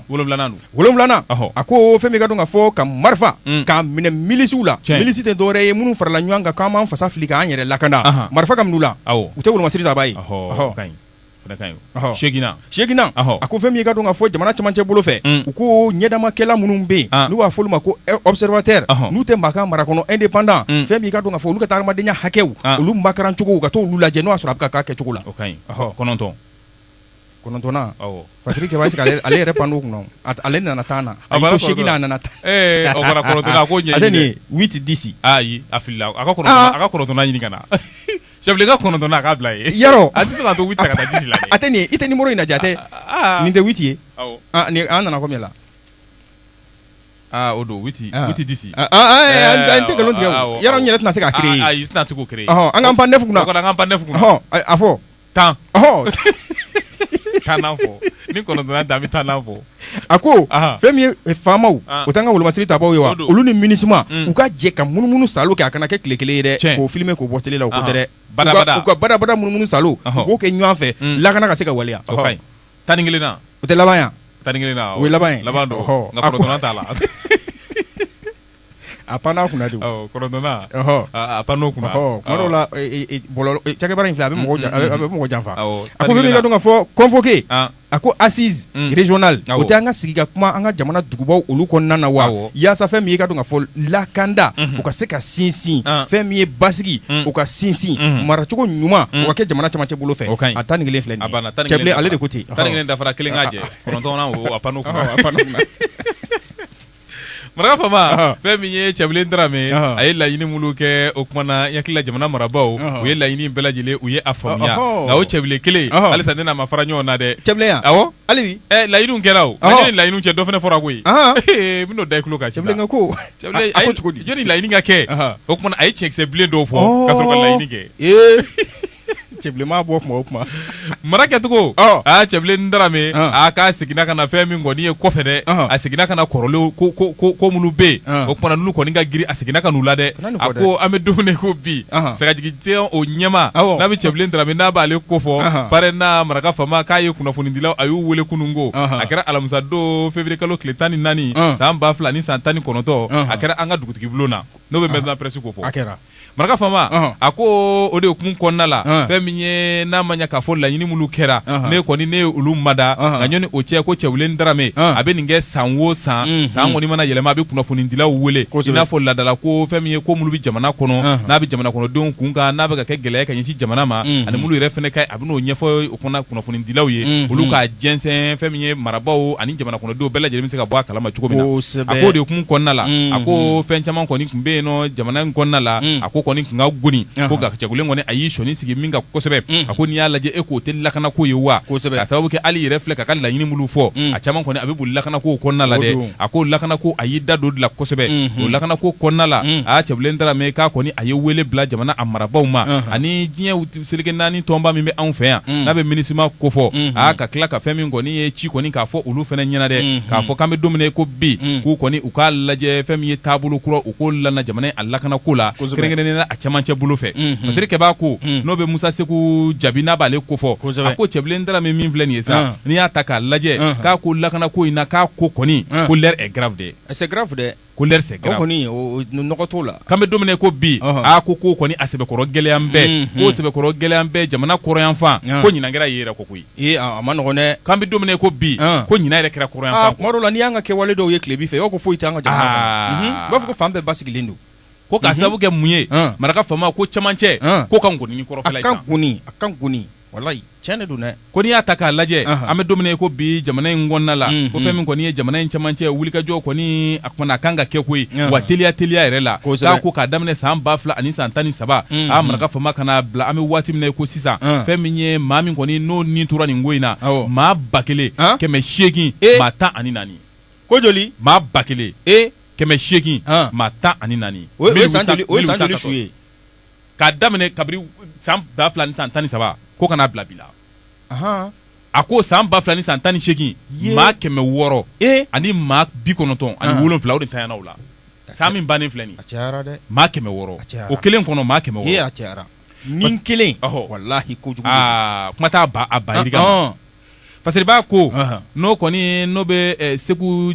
wolonwulanan don wolonwulanan a ko fɛn min ka dɔn ka fɔ ka marifa hmm. k'a minɛ milisiw la milisi tɛ dɔwɛrɛ ye minnu farala ɲɔgɔn kan k'an b'an fasa fili k'an yɛrɛ lakana marifa ka minɛ u la u tɛ wolomasiri taba ye seginna seginna a ko fɛn min ka dɔn ka fɔ jamana camancɛ bolo fɛ u ko ɲɛdamakɛla minnu bɛ yen n'u b'a fɔ olu ma ko observateur n'u tɛ maa ka mara kɔnɔ indépendant fɛn min ka dɔn ka fɔ olu ka taa adamadenya hakɛw olu makarancogo ka taa olu lajɛ n'u y'a sɔrɔ a bɛ ka kɛ cogo la kɔnɔntɔn kɔnɔntɔnna fa ale yɛrɛ pan kunna ale nana tan na a seginna a nana taa tɛ di a a ka ɲini ka na Cɛbilen ka kɔnɔntɔn n' k'a bila ye Yɔrɔ a tɛ se ka to la a tɛ i tɛ numéro in lajɛ a tɛ nin tɛ huit ye an nana combien la o don huit dix an tɛ nkalon tigɛ Yɔrɔ n yɛrɛ tɛna se k'a créer ayi tɛna se k'o créer an k'an pan neuf kunna an k'an pan neuf kunna a fɔ tannan ni kɔnɔntɔn da bɛ tan fɔ a ko fɛn min ye faamaw o t'an ka wolomasiri tabaw ye wa olu ni MINUSMA u ka jɛ ka munumunu saalo kɛ a kana kɛ tile kelen ye dɛ k'o filime k'o bɔ tele la o ko tɛ dɛ u ka badabada munumunu saalo k'o kɛ ɲɔgɔn fɛ lakana ka se ka waleya tan ni kelen o tɛ laban tan ni kelen laban t'a la A panna kunna de kɔnɔntɔnna a panna o la cɛkɛba in filɛ a bɛ a bɛ mɔgɔ janfa a ko ka dɔn ka fɔ convoquer a ko assise régionale o tɛ an ka sigi ka kuma an ka jamana dugubaw olu kɔnɔna na wa yaasa fɛn min ye ka dɔn ka fɔ lakanda o ka se ka sinsin fɛn min ye basigi o ka sinsin maracogo ɲuman o ka kɛ jamana camancɛ bolo fɛ a tan ni kelen filɛ ale de ko ten dafara kelen k'a jɛ pan maraka faama fɛn min ye Cɛbilen Darame a ye laɲini minnu kɛ o tuma na i hakili la jamana marabagaw u ye laɲini bɛɛ lajɛlen u ye a faamuya nka o Cɛbilen kelen halisa ne n'a ma fara ɲɔgɔn na dɛ laɲiniw kɛra laɲiniw cɛ dɔ fana fɔra koyi n bɛn'o da i tulo kan ko jɔnni laɲini ka kɛ o tuma na a ye tiɲɛ kisɛ bilen dɔw fɔ ka sɔrɔ ka laɲini kɛ Cɛbilen mana bɔ tuma o tuma, mara kɛcogo, ɔ, aa Cɛbilen Darame, ɔn, aa k'a seginna ka na fɛn min kɔni ye kɔfɛ dɛ, ɔnhɔn, a seginna ka na kɔrɔlenw ko ko ko ko minnu bɛ yen, ɔn, o tuma na n'olu kɔni ka girin a seginna ka n'u la dɛ, kana nin fɔ dɛ, a ko an bɛ don min na i ko bi, ɔnhɔn, sagajigijɛ o ɲɛmaa, awɔ, n'a bɛ Cɛbilen Darame n'a b'ale ko fɔ, ɔnhɔn, PARENA maraka faama k'a ye kunnafonidilaw a y'u wele kunun ko, ɔnhɔn, a kɛra alamisa don février kalo tile tan ni naani, ɔn, san ba fila ni san tan ni kɔnɔntɔn, ɔnhɔn, a kɛra an ka dugutigibulon na n'o bɛ maison de la presse ko fɔ, a kɛra maraka faama a ko o de hukumu kɔnɔna la fɛn min ye n'a ma ɲɛ k'a fɔ laɲini minnu kɛra ne kɔni ne ye olu mada nka ɲɔni o cɛ ko Cɛbilen Darame a bɛ nin kɛ san wo san mhm. san kɔni mana yɛlɛma a bɛ kunnafonidilaw wele i n'a fɔ ladala ko fɛn min ye ko minnu bɛ jamana kɔnɔ n'a bɛ jamana kɔnɔdenw kun kan n'a bɛ ka kɛ gɛlɛya ka ɲɛsin jamana ma mhm. ani minnu yɛrɛ fana a bɛ n'o ɲɛfɔ o kɔnɔ kunnafonidilaw ye olu ka jɛnsɛn fɛn min ye marabaw ani jamana kɔnɔdenw bɛɛ lajɛlen bɛ se ka bɔ a kalama cogo min na a k'o de hukumu kɔnɔna la a ko fɛn caman kɔni tun bɛ yen nɔ jamana in kɔnɔna la a ko kɔni tun ka goni ko nka Cɛbilen kɔni a y'i sɔɔni sigi min kan kosɛbɛ a ko n'i y'a lajɛ e k'o tɛ lakana ko ye wa k'a sababu kɛ hali yɛrɛ filɛ k'a ka laɲini minnu fɔ a caman kɔni a bɛ boli lakana ko kɔnɔna la dɛ a ko lakana ko a y'i da don la kosɛbɛ o lakana ko kɔnɔna la a Cɛbilen Darame k'a kɔni a ye weele bila jamana a marabaw ma ani diɲɛ seleke naani tɔnba min bɛ anw fɛ yan mm. n'a bɛ minisima ko fɔ mm-hmm. aa ka tila ka fɛn min kɔni ye ci kɔni k'a fɔ olu fana ɲɛna dɛ mm-hmm. k'a fɔ k'an bɛ don min na ko bi mm. k'u kɔni u k'a lajɛ fɛn min ye taabolo kura u k'o lana jamana a lakana ko la kɛrɛnkɛrɛnnen na a cɛmancɛ bolo fɛ mm-hmm. masiri kɛbaa ko mm. n'o bɛ Musa Seku Jabi n'a b'ale ko fɔ a ko Cɛbilen Darame min filɛ nin ye sa ah. n'i y'a ta k'a lajɛ ah. k'a ko lakana ko in na k'a ko kɔni ah. ko l'heure est grave dɛ ko kɔni nɔgɔ t'o la k'an bɛ don min na ko bi a ko ko kɔni a sɛbɛkɔrɔ gɛlɛyalen bɛ ko sɛbɛkɔrɔ gɛlɛyalen bɛ jamana kɔrɔyanfan ko ɲinan kɛra yen yɛrɛ kɔ koyi a man nɔgɔn dɛ k'an bɛ don min na ko bi ko ɲinan yɛrɛ kɛra kɔrɔyanfan tuma dɔw la n'i y'an ka kɛwale dɔw ye tilebin fɛ o ko foyi t'an ka jamana kɔnɔ i b'a fɔ ko fan bɛɛ basigilen don ko k'a sababu kɛ mun ye maraka faama ko camancɛ ko ka goni ni kɔrɔfɛla ye a ka goni walayi tiɲɛ de don dɛ ko n'i y'a ta k'a lajɛ an bɛ don min na ko bi jamana in kɔnɔna la ko fɛn min kɔni ye jamana in camancɛ wulikajɔ kɔni a kɔni a kan ka kɛ koyi wa teliya teliya yɛrɛ la k'a ko k'a daminɛ san ba fila ani san tan ni saba a maraka faama ka na bila an bɛ waati min na ko sisan fɛn min ye maa min kɔni n'o nin tora nin ko in na maa ba kelen kɛmɛ seegin maa tan ani naani ko joli maa ba kelen e kɛmɛ seegin maa tan ani naani o ye su ye k'a daminɛ kabiri san 2013 ko ka na bila bi la a ko san 2018 ye maa kɛmɛ wɔɔrɔ e ani maa bi kɔnɔntɔn ani wolonwula o de tayana o la san min bannen filɛ nin ye a cayara dɛ maa kɛmɛ wɔɔrɔ a cayara o kelen kɔnɔ maa kɛmɛ wɔɔrɔ ee a cayara ni kelen walahi kojugu de don aa kuma t'a ban a ban yirika ma. Fasiriba ko n'o kɔni n'o bɛ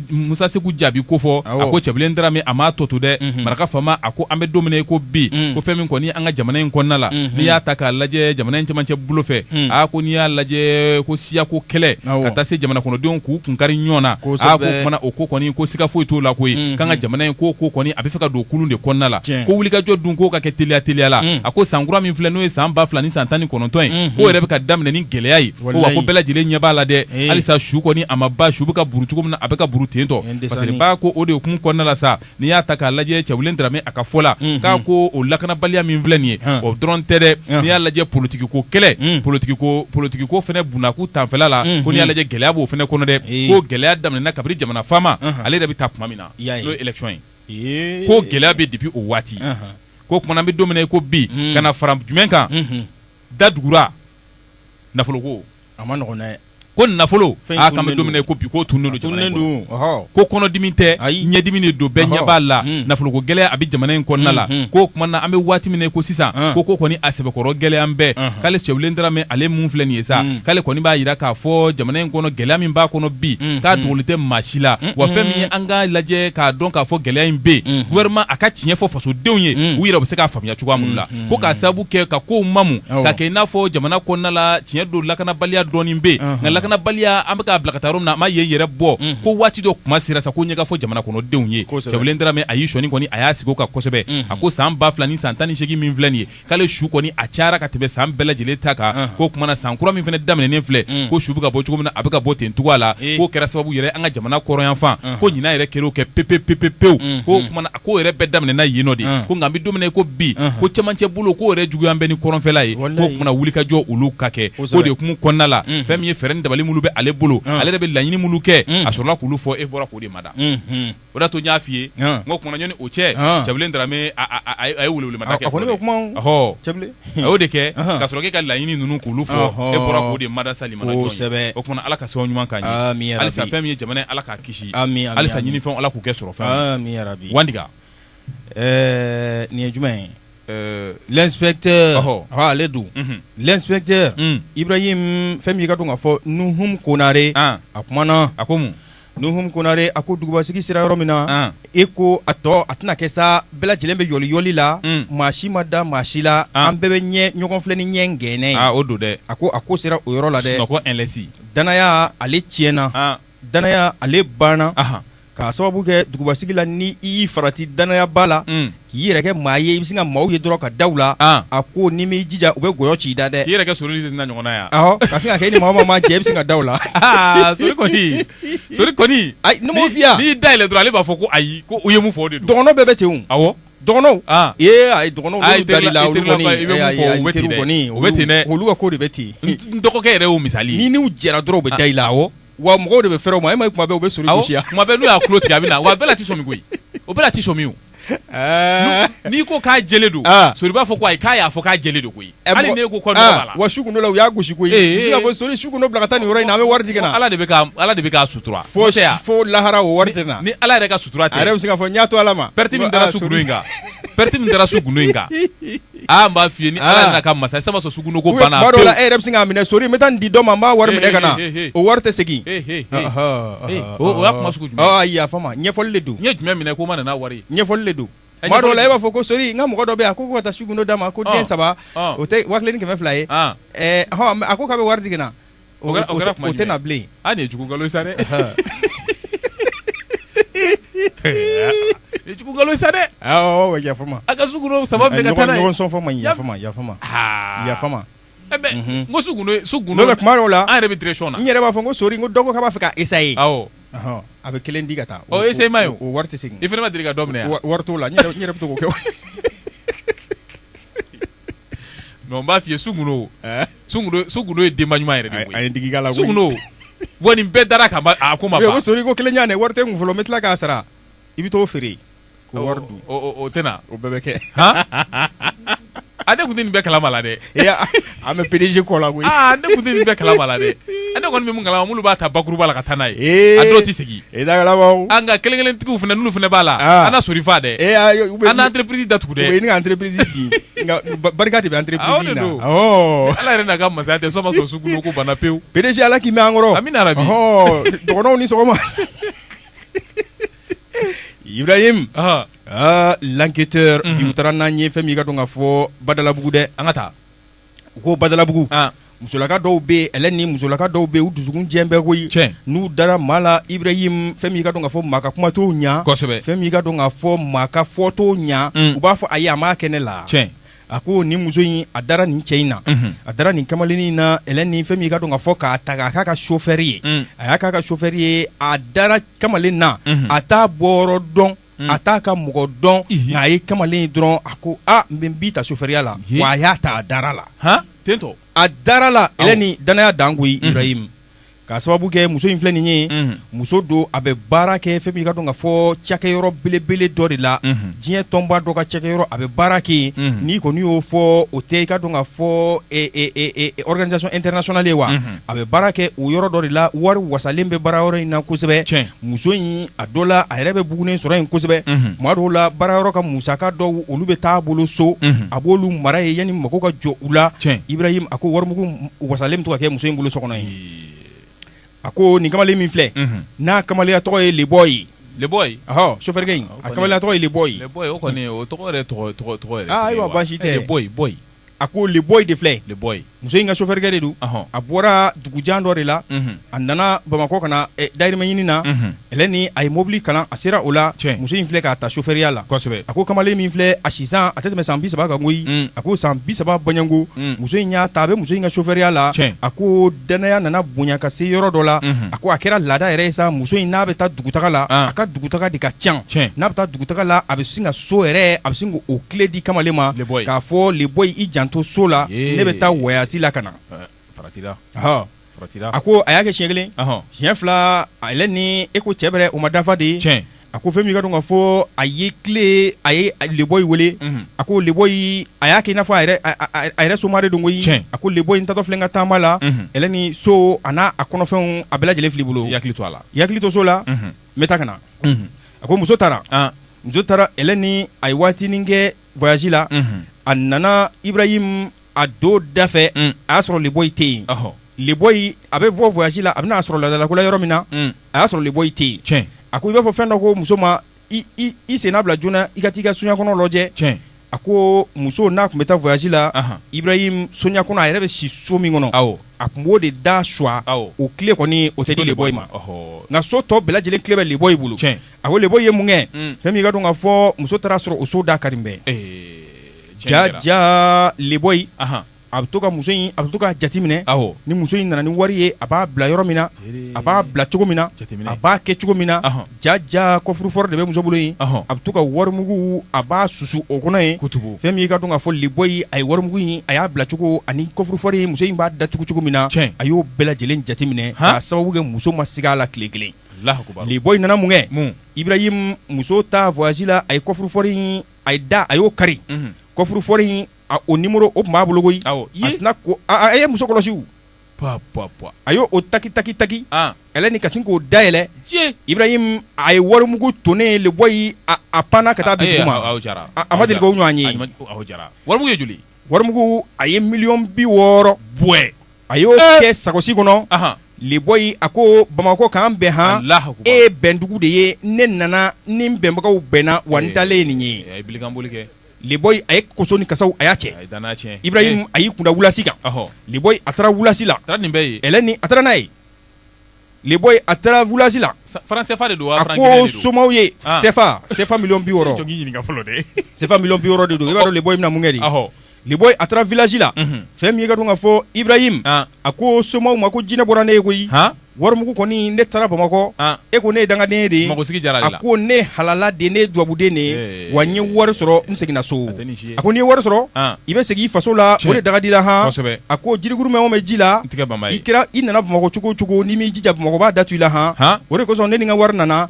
Musa Seku jaabi kofɔ a ko Cɛbilen Darame a m'a tɔ to dɛ maraka faama a ko an bɛ don min na i ko bi ko fɛn min kɔni an ka jamana in kɔnɔna la n'i y'a ta k'a lajɛ jamana in camancɛ bolo fɛ a ko n'i y'a lajɛ ko siyako kɛlɛ ka taa se jamana kɔnɔdenw k'u kun kari ɲɔgɔn na ko kumana o ko kɔni ko siga foyi t'o la koyi k'an ka jamana in ko ko kɔni a bɛ fɛ ka don kulu de kɔnɔna la ko wulikajɔ dun k'o ka kɛ teliya teliyala a ko san kura min filɛ n'o ye san ba fila ni san tan ni kɔnɔ tɔntɔn ye Unhun. k'o yɛrɛ bɛ ka daminɛ ni gɛlɛya ye ko wa Walayi. ko bɛɛ lajɛlen ɲɛ b'a la dɛ Ee. halisa su kɔni a ma ba su bɛ ka buru cogo min na a bɛ ka buru ten tɔ Nin parce que desani. ba ko o de hukumu kɔnɔna la sa n'i y'a ta k'a lajɛ Cɛbilen Darame a ka fɔ la Unhun. k'a ko o lakanabaliya min filɛ nin ye Hɔn. o dɔrɔn tɛ dɛ Hɔn. n'i y'a lajɛ politikiko kɛlɛ Mm. politikiko politikiko fɛnɛ bunakun tanfɛla la Unhun. ko n'i y'a lajɛ gɛlɛya b'o fɛnɛ kɔnɔ dɛ Ee. ko gɛlɛya daminɛna kabini jamana faama Ɔnhɔn. ale yɛrɛ bɛ taa tuma min na I y'a ye. n'o ye élection ye Ee. ko gɛlɛya bɛ depuis o waati Ɔnhɔn. ko kumana an bɛ don min na i ko bi ka na fara jumɛn kan da tugura nafoloko a man nɔgɔn dɛ ko nafolo an bɛ don min na i ko bi k'o tununnen don ko kɔnɔdimi tɛ ɲɛdimi de don bɛɛ ɲɛ b'a la nafoloko gɛlɛya a bɛ jamana in kɔnɔna la ko kumana an bɛ waati min na i ko sisan ko ko kɔni a sɛbɛkɔrɔ gɛlɛyalen bɛ k'ale Cɛbilen Darame ale min filɛ nin ye sa k'ale kɔni b'a jira k'a fɔ jamana in kɔnɔ gɛlɛya min b'a kɔnɔ bi k'a dogolen tɛ maa si la wa fɛn min an ka lajɛ k'a dɔn k'a fɔ gɛlɛya in bɛ yen gouvernement a ka tiɲɛ fɔ fasodenw ye u yɛrɛ bɛ se k'a faamuya cogoya minnu la ko k'a sababu kɛ ka kow mamu k'a kɛ i n'a fɔ jamana kɔnɔna la tiɲɛ don lakanabaliya dɔɔnin bɛ yen nka lakanabaliya an bɛ k'a bila ka taa yɔrɔ min na a ma yen yɛrɛ bɔ ko waati dɔ kuma sera sa ko ɲɛ ka fɔ jamana kɔnɔdenw ye Cɛbilen Darame a y'i sɔnni kɔni a y'a sigi o kan kosɛbɛ a ko san ba fila ni san tan ni seegin min filɛ nin ye k'ale su kɔni a cayara ka tɛmɛ san bɛɛ lajɛlen ta kan ko kumana san kura min fana daminɛnen filɛ mm. ko su bɛ ka bɔ cogo min na a bɛ ka bɔ ten cogoya la eh. k'o kɛra sababu yɛrɛ an ka jamana kɔrɔnyanfan ko ɲinan yɛrɛ kɛr'o kɛ pepepepepewu mm, k'o mm. kumana k'o yɛrɛ bɛɛ daminɛna yen nɔ de ko nka an bɛ don min na i ko bi ko cɛmancɛ bolo k'o yɛrɛ juguya bɛ ni kɔrɔnfɛla ye ko kumana wulikajɔ olu ka kɛ o de hukumu kɔnɔna la fɛn min ye fɛɛrɛ ni dabali minnu bɛ ale bolo ale yɛrɛ bɛ laɲini minnu kɛ a sɔrɔla k'olu fɔ e bɔra k'o de mada o da to n y'a f'i ye n ko kumana ɲɔni o cɛ Cɛbilen Darame a ye welewelemada kɛ fɔlɔ dɛ ɔhɔ cɛbilen a y'o de kɛ ka sɔrɔ k'e ka laɲini ninnu k'olu fɔ e bɔra k'o de mada sa limana jɔn ye o kumana Ala ka sababu ɲuman k'an ye aami yarabi halisa fɛn min ye jamana in Ala k'a kisi aami aami halisa ɲinifɛnw Ala k'u kɛ sɔrɔfɛnw ye aami yarabi Wandiga ɛɛ nin ye jumɛn ye ɛɛ l'inspecteur ɔhɔ ɔ ale dun unhun l'inspecteur un Ibrahim fɛn min ye i k'a dɔn k'a fɔ Nuhum Konare an a kumana a ko mun Nuhum Konare a ko dugubasigi sera yɔrɔ min na, an, e ko a tɔ a tɛna kɛ sa bɛɛ lajɛlen bɛ yɔliyɔli la, un, maa si ma da maa si la, an, an bɛɛ bɛ ɲɛ ɲɔgɔn filɛ ni ɲɛ gɛnɛ ye, aa o don dɛ, a ko a ko sera o yɔrɔ la dɛ, sunɔgɔ ɛnlɛsi, danaya ale tiɲɛna, an, danaya ale banna, anhan, k'a sababu kɛ dugubasigi la ni i y'i farati danayaba la, un K'i yɛrɛ kɛ maa ye i bɛ sin ka maaw ye dɔrɔn ka da u la, an, a ko n'i m'i jija u bɛ nkɔyɔ ci i da dɛ, k'i yɛrɛ kɛ sori de na ɲɔgɔnna ye wa, awɔ, ka sin ka kɛ i ni maa o maa mana jɛ i bɛ sin ka da u la, aa sori kɔni, sori kɔni, ayi ne m'o f'i ye wa, n'i y'i da yɛlɛ dɔrɔn ale b'a fɔ ko ayi ko u ye mun fɔ o de don, dɔgɔnɔw bɛɛ bɛ ten o, awɔ, dɔgɔnɔw, an, ee ayi dɔgɔnɔw n'olu dar'i la olu kɔni, i bɛ mun fɔ u bɛ ten dɛ, ayi ayi n teriw kɔni olu ka ko de bɛ ten, n dɔgɔkɛ yɛrɛ y'o misali ye, n'i n'u jɛra dɔrɔn u bɛ da i la, awɔ wa mɔgɔw de bɛ fɛrɛ o ma e ma ye kuma bɛɛ u bɛ sori awɔ gosi a kuma bɛɛ n'u y'a tulo tigɛ a bɛ na wa a bɛɛ la a tɛ sɔmi koyi o bɛɛ la a tɛ sɔmi o Ɛɛ. n'i ko k'a jɛlen don Ah. sori b'a fɔ ko ayi k'a y'a fɔ k'a jɛlen don koyi Ɛ, hali mɔgɔ- n'e ko kɔ nɔgɔ Ah, b'a la wa su gundo la u y'a gosi koyi Ee, Muso y'a fɔ sori su gundo bila ka taa nin yɔrɔ in na an bɛ wari di ka na ala de bɛ ka ala de bɛ k'a sutura fo N'o tɛ yan, fo lahara o wari tɛ na ni ala yɛrɛ ka sutura tɛ a yɛrɛ bɛ se k'a fɔ n y'a to ala ma pɛrɛti min Ko, dara ah, su sori. gundo in kan pɛrɛti min dara su gundo in kan aa n b'a f'i ye ni Ala n'a ka masaya tɛ sisan b'a sɔrɔ sugundo ko banna pewu, tuma dɔw la e yɛrɛ bɛ sin k'a minɛ sori n bɛ taa nin di dɔ ma n b'a wari minɛ ka na He, he, he, he. o wari tɛ segin He, he, he. Ɔhɔ, He, ɔhɔ, o- o y'a kuma sugu jumɛn ye? ɔhɔ, ayi yafa n ma ɲɛfɔli de don n ye jumɛn minɛ ko n ma na n'a wari ye ɲɛfɔli de don Ɛ, tuma dɔw la ɲɛfɔli- e b'a fɔ ko sori n ka mɔgɔ dɔ bɛ yan ko ko ka taa sugundo d'a ma ko Ɔn, den saba ɔn. o tɛ waa kelen ni kɛmɛ fila ye Ɔn. Ɛɛ, ɔhɔ, a ko k'a bɛ wari di ka na O kɛra kuma jumɛn ye? O tɛ na bilen. Aa nin ye jugu nkalon ye sa dɛ! Nin ye jugu nkalon ye sa dɛ! Awɔ yafa n ma. A ka su gundo saba bɛɛ ka taa n'a ye. Ɲɔgɔn sɔn fɔ man ɲi. Yafa n ma, yafa n ma. Haa! Yafa n ma. Ɛ mais n ko su gundo ye, su gundo. N'o tɛ tuma dɔw la. An yɛrɛ bɛ direction na. N yɛrɛ b'a fɔ n ko sori dɔ ko k'a b'a fɛ ka essayer. Awɔ. Ɔhɔn a bɛ kelen di ka taa. O essayement ye o. O wari tɛ segin. I fana ma deli ka dɔ minɛ wa? Wari t'o la. N yɛrɛ bɛ to k'o kɛ. N b'a f'i ye sugundo sugundo ye denba ɲuman yɛrɛ de a ye digi k'a la sugundo wa nin bɛɛ dar'a kan a ko n ma ko sori ko kelen di yan ne wari tɛ n kun fɔlɔ n bɛ tila k'a sara i bɛ t'o feere ko wari o tɛ na o bɛɛ bɛ kɛ aa ne kun tɛ nin bɛɛ kalama la dɛ an bɛ PDG kɔ la koyi ne kun tɛ nin bɛɛ kalama la dɛ ne kɔni bɛ min kalama minnu b'a ta bakuruba la ka taa n'a ye a dɔw tɛ segin E da an ka kelen kelentigiw fana n'olu fana b'a la a na sori faa dɛ e a na entreprise in da tugu dɛ an ka entreprise di nka barika de bɛ entreprise in na ala yɛrɛ n'a ka masaya tɛ sisan b'a sɔrɔ sugundo ko banna pewu PDG ala k'i mɛn an kɔrɔ amiina yarabi dɔgɔnɔw ni sɔgɔma Ibrahim l'enquêteur bi u taara n'an ye fɛn min' ka dɔn ka fɔ badalabugu dɛ an ka taa u ko badalabugu musolaka dɔw bɛ ɛlɛn ni musolaka dɔw bɛ u dusukun jɛlen bɛ koyi n'u dara maa la Ibrahim fɛn min ka dɔn ka fɔ maa ka kuma t'o ɲɛ fɛn min ka dɔn ka fɔ maa ka fɔ t'o ɲɛ mm. u b'a fɔ ayi a m'a kɛ ne la a ko nin muso in a dara nin cɛ in na mhm. a dara nin kamalennin in na ɛlɛn ni fɛn min ka dɔn ka fɔ k'a ta k'a k'a ka sofɛri ye mm. a y'a k'a ka sofɛri ye a dara kamalen na mhm. a t'a bɔyɔrɔ dɔn a t'a ka mɔgɔ dɔn nka a ye kamalen ye dɔrɔn a ko n bɛ n b'i ta sofɛriya la wa a y'a ta a dara la a dara la Elɛni dannaya dan koyi Ibrahim k'a sababu kɛ muso in filɛ nin ye muso don a bɛ baara kɛ fɛn min i ka dɔn ka fɔ cakɛ yɔrɔ belebele dɔ de la diɲɛ tɔnba dɔ ka cakɛ yɔrɔ a bɛ baara kɛ yen n'i kɔni y'o fɔ o tɛ i ka dɔn ka fɔ organisation internationale ye wa a bɛ baara kɛ o yɔrɔ dɔ de la wari wasalen bɛ baara yɔrɔ in na kosɛbɛ muso in a dɔ la a yɛrɛ bɛ bugunen sɔrɔ yen kosɛbɛ tuma dɔw la baara yɔrɔ ka musaka dɔw olu bɛ taa bolo so a b'olu mara yen yani mako ka jɔ u la Ibrahim a ko warimugu wasalen bɛ to ka kɛ muso in bolo so kɔnɔ yen a ko nin kamalen min filɛ n'a kamalenya tɔgɔ ye Leboy Leboy sofɛrikɛ in a kamalenya tɔgɔ ye Leboy o kɔni o tɔgɔ tɔgɔ tɔgɔ baasi tɛ Leboy a ko Leboy de filɛ muso in ka sofɛrikɛ de don a bɔra dugujan dɔ de la a nana bamakɔ ka na dayirimɛ ɲini na Elɛni a ye mobili kalan a sera o la muso in filɛ k'a ta sofɛriya la a ko kamalen min filɛ a si a tɛ tɛmɛ san bi saba kan koyi a ko san bi saba bɔɲɔnko muso in y'a ta a bɛ muso in ka sofɛriya la a ko dannaya nana bonya ka se yɔrɔ dɔ la a ko a kɛra laada yɛrɛ ye sa muso in n'a bɛ taa dugutaga la a ka dugutaga de ka ca n'a bɛ taa dugutaga la a bɛ sin ka so yɛrɛ a bɛ sin k'o kile di kamalen ma k'a fɔ Leboy i janto so la ne bɛ taa wayasi la ka na a ko a y'a kɛ siɲɛ kelen siɲɛ fila Elɛni e ko cɛ bɛrɛ o ma dafa de A ko fɛn min ka dɔn ka fɔ a ye kile a ye Leboy wele a ko Leboy a y'a kɛ i n'a fɔ a yɛrɛ somaa de don koyi a ko Leboy n taatɔ filɛ n ka taama la Elɛni so a n'a kɔnɔfɛnw a bɛɛ lajɛlen filɛ i bolo i hakili to so la n bɛ taa ka na a ko muso taara muso taara Elɛni a ye waatinin kɛ voyasi la a nana Ibrahim a don da fɛ a y'a sɔrɔ Leboy tɛ yen Leboy a bɛ bɔ voyasi la a bɛn'a sɔrɔ laadalakola yɔrɔ min na a y'a sɔrɔ Leboy tɛ yen a ko i b'a fɔ fɛn dɔ ko muso ma i senna bila joona i ka taa i ka sonya kɔnɔ lajɛ a ko muso n'a tun bɛ taa voyasi la Ibrahim sonya kɔnɔ a yɛrɛ bɛ si so min kɔnɔ a tun b'o de da suwa o kile kɔni o tɛ di Leboy ma nka so tɔ bɛɛ lajɛlen kile bɛ Leboy bolo a ko Leboy ye mun kɛ fɛn min ka dɔn ka fɔ muso taara a sɔrɔ o so da karilen bɛ jaa Leboy a bɛ to ka muso in a bɛ to ka jate minɛ ni muso in nana ni wari ye a b'a bila yɔrɔ min na a b'a bila cogo min na a b'a kɛ cogo min na jaa jaa coffre-fort de bɛ muso bolo yen a bɛ to ka wari mugu a b'a susu o kɔnɔ yen fɛn min i ka dɔn ka fɔ Leboy a ye wari mugu in a y'a bila cogo ani coffre-fort ye muso in b'a da tugu cogo min na a y'o bɛɛ lajɛlen jate minɛ k'a sababu kɛ muso ma siga a la tile kelen Leboy nana mun kɛ Ibrahim muso taa voyasi la a ye coffre-fort a ye da a y'o kari coffre-fort in o numéro o tun b'a bolo koyi a sinna ko a ye muso kɔlɔsi a y' o taki taki taki ɛlɛni ka sin k'o dayɛlɛ ibrahim a ye warimugu tonnen leboyi a panna ka taa bin dugu ma a ma deli k'o ɲɔgɔn ye warimugu ye joli warimugu a ye miliyɔn bi wɔɔrɔ bɔ a y'o kɛ sagosi kɔnɔ leboyi a ko bamakɔ k'an bɛn han e bɛndugu de ye ne nana ni bɛnbagaw bɛnna wa n taalen ye nin ye leboyi a ye koso ni kasaw a y'a cɛ ibrahim a y'i kun da wulasi kan leboyi a taara wulasi la ɛlɛni a taara n'a ye leboyi a taara wulasi la a ko somaw ye sɛfa miliyɔn bi wɔɔrɔ de don i b'a dɔn leboyi bɛna mun kɛ de leboyi a taara vilasi la fɛn min ka dɔn ka fɔ ibrahim a ko somaw ma ko jinɛ bɔra ne ye koyi warimugu kɔni ne taara bamakɔ e ko ne ye dangaden de a ko ne halala de ne dubabuden de wa n ye wari sɔrɔ n seginna so A ko n'i ye wari sɔrɔ i bɛ segin i faso la o de daga d'i la han a ko jirikuru mɛn o mɛn ji la i kira i nana bamakɔ cogo o cogo n'i m'i jija bamakɔ b'a da tu i la han o de kosɔn ne ni n ka wari nana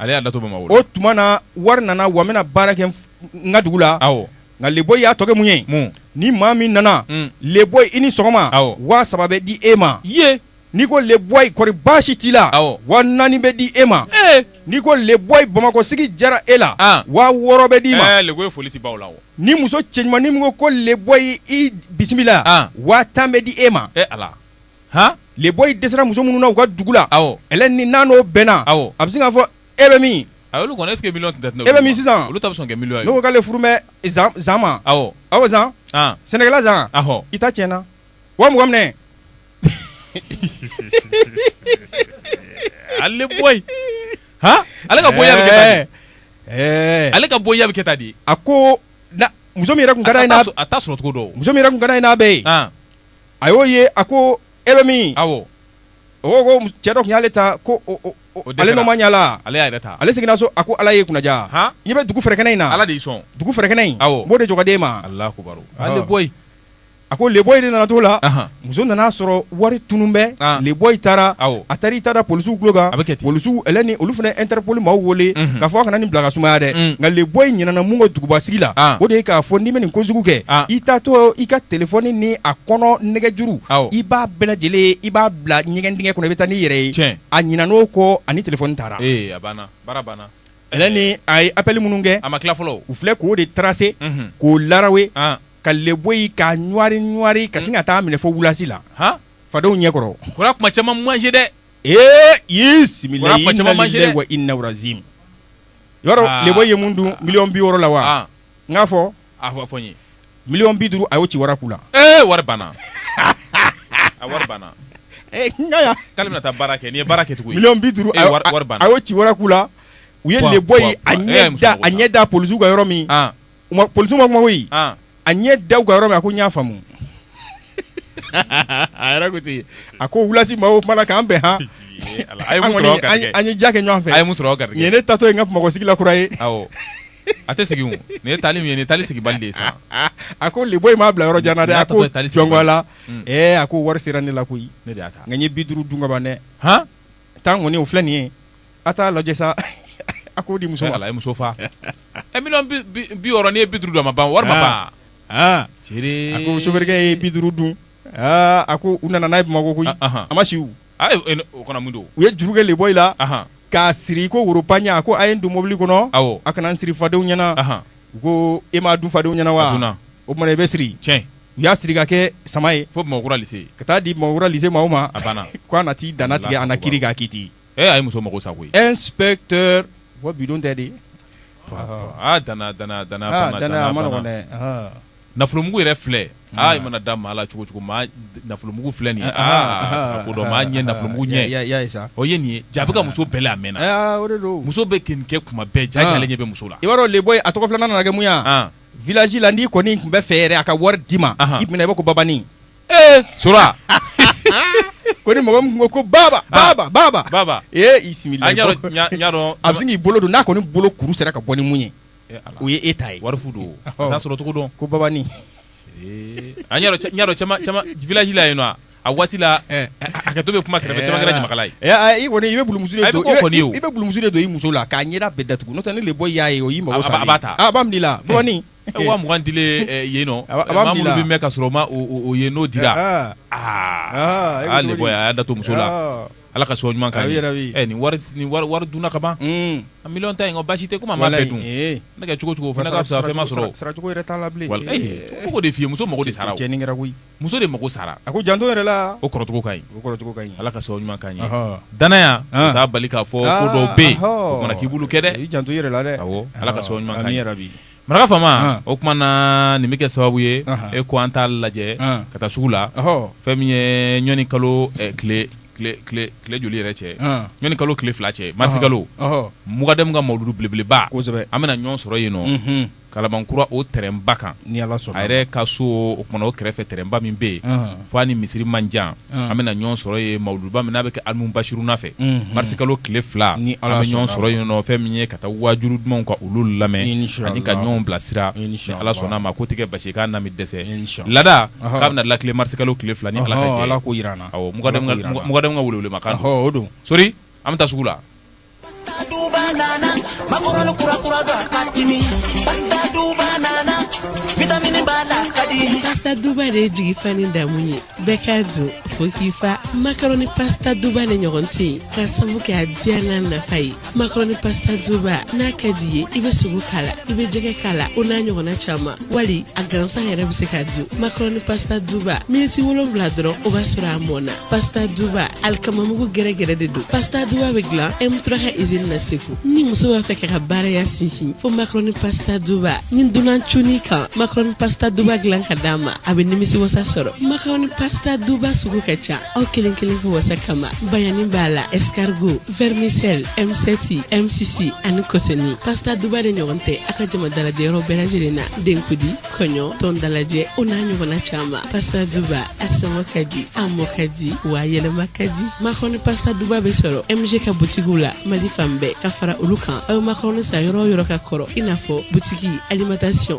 o tuma na wari nana wa n bɛna baara kɛ n ka dugu la nka leboyi y'a tɔ kɛ mun ye ni maa min nana leboyi i ni sɔgɔma waa saba bɛ di e ma N'i ko leboyi kɔri baasi t'i la waa naani bɛ di e ma n'i ko leboyi bamakɔ sigi jara e la waa wɔɔrɔ bɛ d'i ma foli la ni muso cɛɲuman ni min ko leboyi i bisimila waa tan bɛ di e ma leboyi dɛsɛra muso minnu na u ka dugu la ɛlɛni n'a n'o bɛnna a bɛ se k'a fɔ e bɛ min e bɛ min sisan k'ale furu bɛ zan ma awɔ zan sɛnɛkɛla zan i ta tiɲɛna waa mugan minɛ ale ale ka boya ale ka boya bɛ kɛ tan de a ko muso min yɛrɛ tun ka d'a ye n'a t'a sɔrɔ cogo dɔn muso min yɛrɛ tun ka d'a ye n'a bɛ yen a y'o ye a ko e bɛ min awɔ o ko cɛ dɔ tun y'ale ta ko ale n'o ma ɲɛla ale y'a yɛrɛ ta ale seginna so a ko ala y'e kunna ja i bɛ dugu fɛrɛkɛnɛ in na ala de y'i sɔn dugu fɛrɛkɛnɛ in b'o de dugaden ma ala leboyi A ko leboyi de nana t'o la muso nana a sɔrɔ wari tunun bɛ leboyi taara a taara i ta da polisiw tulo kan polisiw ɛlɛni olu fana interpol maaw weele k'a fɔ a kana nin bila ka sumaya dɛ nka leboyi ɲinana mun kɔ dugubasigi la o de ye k'a fɔ n'i bɛ nin kojugu kɛ i taatɔ i ka telefɔni ni a kɔnɔ nɛgɛjuru i b'a bɛɛ lajɛlen i b'a bila ɲɛgɛn dingɛ kɔnɔ i bɛ taa n'i yɛrɛ ye a ɲinan'o kɔ ani telefɔni taara ɛlɛni a ye apɛli minnu kɛ a ma tila fɔlɔ u filɛ k'o de tarase k'o lawe ka le boy ka ɲ ka sin ka taa minɛ fo wulasi la fadenw ɲɛ kɔrɔ kuma caman man ɲi dɛ ee y'i sigi ma i naz le boy ye mun dun million bi wɔɔrɔ la wa n k'a fɔ a fɔ n ye million bi duuru a y'o ci waraku la ee wari banna a wari banna bɛna taa baara kɛ n' ye baara kɛ tugun bi duuru a y'o ci waraku la u ye le boy a a ɲɛ da polisiw ka yɔrɔ min polisiw ma kuma koyi a ɲɛ da u ka yɔrɔ min a ko n y'a faamu a ko wulasi maaw o tuma na k'an bɛn an ye ja kɛ ɲɔgɔn fɛ a ye mun sɔrɔ nin ne taatɔ ye n ka bamakɔ sigi la kura ye a tɛ segin nin taali min ye nin taali seginbali sa a ko le boy m'a bila yɔrɔ jan dɛ a ko jɔn ko a la ee a ko wari sera ne la koyi nka n ye bi duuru dun ka ban dɛ tan kɔni o filɛ nin ye a t'a lajɛ sa a k'o di muso ma ala ye muso fa million bi wɔɔrɔ n'i ye bi duuru dun a ma ban wari ma ban a ko sofɛrikɛ ye bi duuru dun aaa a ko u nana n'a ye bamakɔ koyi a ma si o kana mun don u ye juru kɛ le boy la k'a siri ko woropaɲa a ko a ye n don mobili kɔnɔ a kana n siri fadenw ɲɛna u ko e m'a dun fadenw ɲɛna wa o tuma i bɛ siri tiɲɛ u y'a siri ka kɛ sama ye fo ka taa di bamakɔ polisi maaw ma a banna ko a na t'i danana tigɛ an na kiiri k'a kiti Ee a ye muso mago sa koyi un inspecteur u ka bidon tɛ de, aa danaya danaya danaya a man nɔgɔn dɛ, ɔhɔ, nafolomugu yɛrɛ filɛ aa i mana da maa la cogo o cogo maa nafolomugu filɛ nin ye aa ko dɔ maa ɲɛ nafolomugu ɲɛ i y'a ye sa, o ye nin ye jaa a bɛ ka muso bɛlɛn a mɛnna, aa o de don, muso bɛ k'i nin kɛ tuma bɛɛ jaa e ale ɲɛ bɛ muso la, i b'a dɔn le boy a tɔgɔ filanan nana kɛ mun ye wa, an, village la n'i kɔni tun bɛ fɛ yɛrɛ a ka wari d'i ma, anhan, i tun bɛ na i b'a fɔ ko babani Ee su ko ni mɔgɔ min ko baba ah. baba baba baba ee y'i sigi a bɛ sin k'i bolo don n'a kɔni bolo kuru sera ka bɔ ni mun ye o ye e ta ye wari fu don a t'a sɔrɔ cogo dɔn ko babani village la yen nɔ a waati la eh. hakɛ to bɛ kuma kɛrɛfɛ caman kɛra ɲamakala ye eh, i kɔni i bɛ bulumusu de don i bɛ bulumusu de don i muso la k'a ɲɛda bɛɛ datugu n'o tɛ ni le boy y'a ye o y'i mago sa a b'a ta a b'a minɛ la babani Waugan di yen nɔ a minnu bɛ ka sɔrɔ ma ye n'o di aa aa de y'a da to muso la ala ka so ɲuman yɛrɛ nin wari dun ka ban a mi ta yen ko basi tɛ ma lajɛ dun ne kɛ cogo cogo ma sɔrɔ cogo de muso mako de cɛn koyi muso de mako sara a ko janto yɛrɛ la o kɔrɔcogo ka ɲi ala ka sɔn ɲuman ka ɲi danaya o t'a bali k'a fɔ ko dɔ bɛ yen o mana k'i bolo kɛ dɛ janto yɛrɛ la dɛ ala ka sɔn ɲuman yɛrɛ bi maraka faama o tuma na nin bɛ kɛ sababu ye e ko an t'a lajɛ ka taa sugu la fɛn min ye ɲɔni kalo tile joli yɛrɛ cɛ ɲɔni kalo tile fila cɛ marisikalo mugadamu ka mawuludu belebeleba an bɛna ɲɔgɔn sɔrɔ yen nɔ kalabankura o tɛrɛnba kan a yɛrɛ ka so o kumana o kɛrɛfɛ tɛrɛnba min bɛ yen f' a ni misiri man jan an bɛna ɲɔgɔn sɔrɔ yen mawuluduba min n'a bɛ kɛ alimu basiruna fɛ marisi kalo tile fila an bɛ ɲɔgɔn sɔrɔ yen nɔ fɛn min ye ka taa waajuru dumanw ka olu lamɛn ani ka ɲɔgɔn bilasira ni ala sɔnna a ma ko tɛ kɛ basi kana min dɛsɛ laada k'a bɛna lakile marisi kalo tile fila ni ala ala ko jira n na mugadɛmu ka wele ma kan don sori an bɛ taa sugu la Pasta Duba de jigi fa ni damu ye bɛɛ ka dun fo k'i fa macaroni pasta Duba de ɲɔgɔn tɛ yen k'a sabu kɛ a diya n'a nafa ye macaroni pasta Duba n'a ka d'i ye i bɛ sogo k'a la i bɛ jɛgɛ k'a la o n'a ɲɔgɔnna caman. wali a gansan yɛrɛ bɛ se ka dun makarɔni pasta duba miniti wolonwula dɔrɔn o b'a sɔrɔ a mɔna pasta duba alikamamugu gɛrɛgɛrɛ de don pasta duba bɛ dilan M3 ka izini na segu ni muso b'a fɛ k'i ka baaraya sinsin fo makarɔni pasta duba ni dunan cunn'i kan makarɔni pasta duba dilan ka d'a ma a bɛ nimisi wasa sɔrɔ makarɔni pasta duba sugu ka ca aw kelen kelen ka wasa kama bayani b'a la escargot Vermicelle MCT, MCC ani kɔsɛni pasta duba de ɲɔgɔn tɛ a ka jama dalajɛ yɔrɔ bɛɛ lajɛlen na denkundi kɔɲɔ tɔn dalajɛ o n'a ɲɔgɔnna caman pasta duba a sɔngɔ ka di a mɔ ka di wa yɛlɛma ka di makarɔni pasta duba bɛ sɔrɔ MG ka butigiw la Mali fan bɛɛ ka fara olu kan aw ye makarɔni san yɔrɔ o yɔrɔ ka kɔrɔ i n'a fɔ butigi alimentation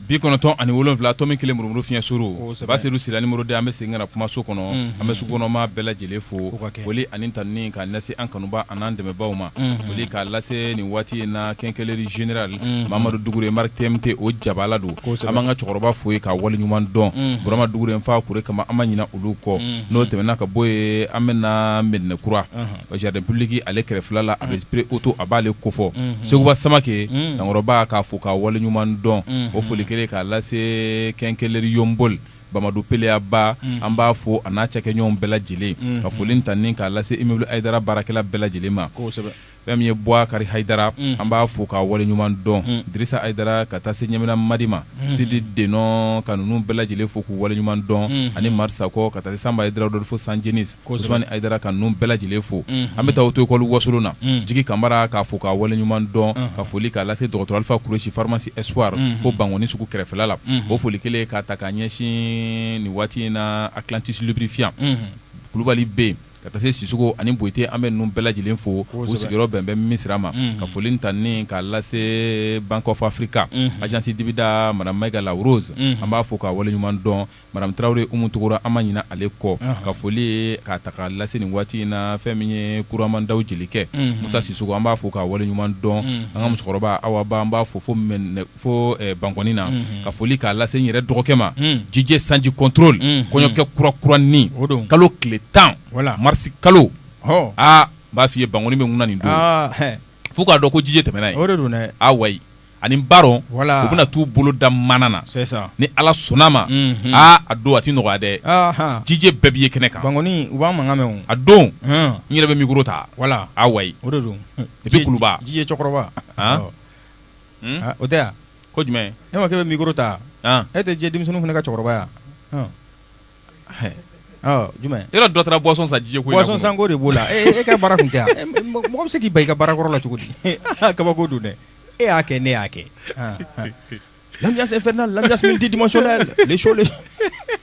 bi kɔnɔntɔn ani wolonwula tomi kelen murumuru fiɲɛ suuru ba seyidu sila numéro deux an bɛ segin ka na kumaso kɔnɔ an bɛ sugu kɔnɔ maa bɛɛ lajɛlen fo foli ani tanuni k'a lase an kanuba ani an dɛmɛbagaw ma foli k'a lase nin waati in na quincaillerie générale mamadu dugure marque TMT o jabala don an b'an ka cɛkɔrɔba fo k'a waleɲuman dɔn burama dugure n fa kure kama an ma ɲina olu kɔ n'o tɛmɛna ka bɔ yen an bɛ na mɛdinɛkura Jardin public ale kɛrɛfɛla la a bɛ spray auto a b'ale kofɔ seguba samakɛ dankɔrɔba k'a fo k'a waleɲuman dɔn o foli kelen k'a lase quincaillerie yɔnboli bamadu peleyaba an b'a fo a n'a cɛkɛɲɔgɔn bɛɛ lajɛlen ka foli tanuni k'a lase immeuble haidara baarakɛla bɛɛ lajɛlen ma fɛn min ye buakari haidara an b'a fo k'a waleɲuman dɔn dirisa haidara ka taa se ɲamina madi ma sidi denɔ ka ninnu bɛɛ lajɛlen fo k'u waleɲuman dɔn ani mari sakɔ ka taa se sanba haidara dɔ fo san jenisi usumani haidara ka ninnu bɛɛ lajɛlen fo an bɛ taa auto école wasolon na jigi kamara k'a fo k'a waleɲuman dɔn ka foli k'a lase dɔgɔtɔrɔ alifa kuresi pharmacie espoir fo bankɔni sugu kɛrɛfɛla la o foli kelen k'a ta ka ɲɛsin nin waati in na atlantis lubrifiant kulubali B ka taa se sisoko ani boyite an bɛ ninnu bɛɛ lajɛlen fo u sigiyɔrɔ bɛn bɛ misira ma ka foli tanuni k'a lase bank of africa agence dibida madamu mayiga la rose an b'a fo k'a waleɲuman dɔn madamu tarawele umu tunkura an ma ɲina ale kɔ ka foli k'a ta k'a lase nin waati in na fɛn min ye kuramandaw jelikɛ musa sisoko an b'a fo k'a waleɲuman dɔn an ka musokɔrɔba awaba an b'a fo fo mɛn fo eh, bankɔni na mhm. ka foli k'a lase n yɛrɛ dɔgɔkɛ ma mhm. DJ sanji contrôle mhm. kɔɲɔkɛ kura kura nin kalo tile tan marisi kalo aa n b'a f'i ye bankɔni bɛ ŋuna nin don ah, fo k'a dɔn ko DJ tɛmɛna yen a wayi ani baron u bɛna t'u bolo da mana na ni ala sɔnna ma aa a don a ti nɔgɔya dɛ DJ bɛɛ b'i ye kɛnɛ kan bankɔni u b'an mankan mɛn a don n yɛrɛ bɛ mikoro ta a wayi i bɛ kuluba DJ cɛkɔrɔba o tɛ yan ko jumɛn e ma k'e bɛ mikoro ta e tɛ DJ denmisɛnnin fana ka cɛkɔrɔbaya jumɛn e dɔ taara boisson san DJ ko boisson sanko de b'o la e ka baara kun tɛ yan mɔgɔ bɛ se k'i ban i ka baara kɔrɔ la cogo di kabako don dɛ e y'a kɛ ne y'a kɛ l'ambiance infernale l'ambiance multidimensionnelle les shows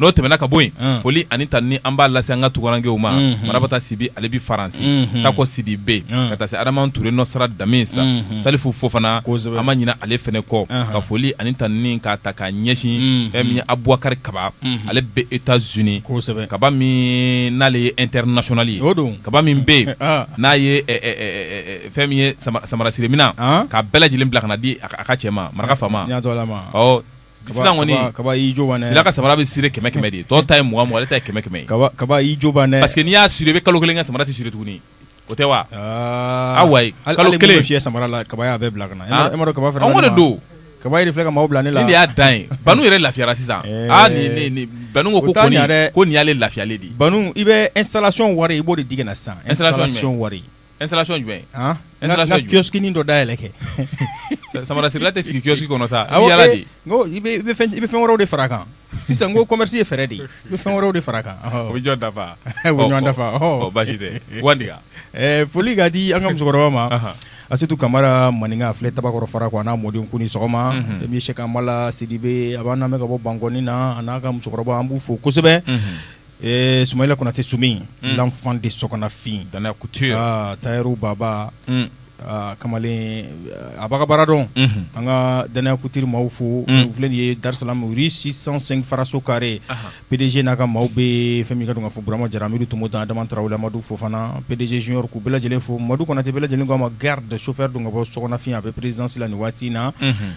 n'o tɛmɛna ka bɔ yen foli ani tanuni an b'a lase an ka tungarankew ma marabata sibi ale bɛ faransi tako sidibe ka taa se adama ture nɔsara damisa salifu fofana an ma ɲina ale fana kɔ ka foli ani tanuni k'a ta ka ɲɛsin fɛn min ye abubakari kaba ale bɛ états-unis kosɛbɛ kaba min n'ale ye international o don kaba min bɛ yen n'a ye fɛn min ye samara sire minan k'a bɛɛ lajɛlen bila ka na di a ka cɛ ma maraka fa kɔnila ka samara bɛ sire kɛmɛ kɛmɛ de tɔw ta ye mugan ale ta kɛmɛ kɛmɛ kabajɛ parce que n'i y'a sire i bɛ kalo kelen kɛ samara tɛ sire tuguni o tɛ wa kalo kelen si samara la kaba y'a bɛɛ bila kaba don kaba filɛ ka maaw bila ne la y'a dan ye banu yɛrɛ lafiyara sisan ko ko nin y'ale lafiyalen de i bɛ installation wari i b'o de di ne sisan installation wari installation jumɛn? An? installation jumɛn? N ka kiosque nin dɔ dayɛlɛ kɛ. Samara sirela tɛ sigi kiosque kɔnɔ sa, i bɛ yaala de. N ko i bɛ fɛn i bɛ fɛn wɛrɛw de far'a kan. Sisan n ko commerce ye fɛɛrɛ de ye, i bɛ fɛn wɛrɛw de far'a kan. O bɛ ɲɔgɔn dafa? O bɛ ɲɔgɔn dafa. Ɔ basi tɛ. Wandiya. Ɛɛ foli ka di an ka musokɔrɔba ma. Anhan. Asitu Kamara Maninka a filɛ Tabakɔrɔ farakɔ a n'a mɔdenw k'u ni sɔgɔma. Unhun. Fɛn min ye Sɛki Amala Sidibe a b'an lamɛn ka bɔ Bankɔni na a n'a ka musokɔrɔba an b'u fo kosɛbɛ. Unhun. Ee Sumayila Konate Sumi Un! l'enfant de Sɔkɔnafin Danaya couture aa tailleur Baba Un! aa kamalen a b'a ka baara dɔn Unhun! an ka Danaya couture maaw fo Un! u filɛ nin ye Dar es Salaam rue 605 faraso carré Ahan! PDG n'a ka maaw bɛɛ fɛn min ka don k'a fɔ Burama Jara Amidu Tomota Adama Tarawele Amadu Fofana PDG Junior k'u bɛɛ lajɛlen fo Madu Konate bɛɛ lajɛlen k'a ma garde chauffeur don ka bɔ Sɔkɔnafin a bɛ présidence la nin waati in na. Unhun!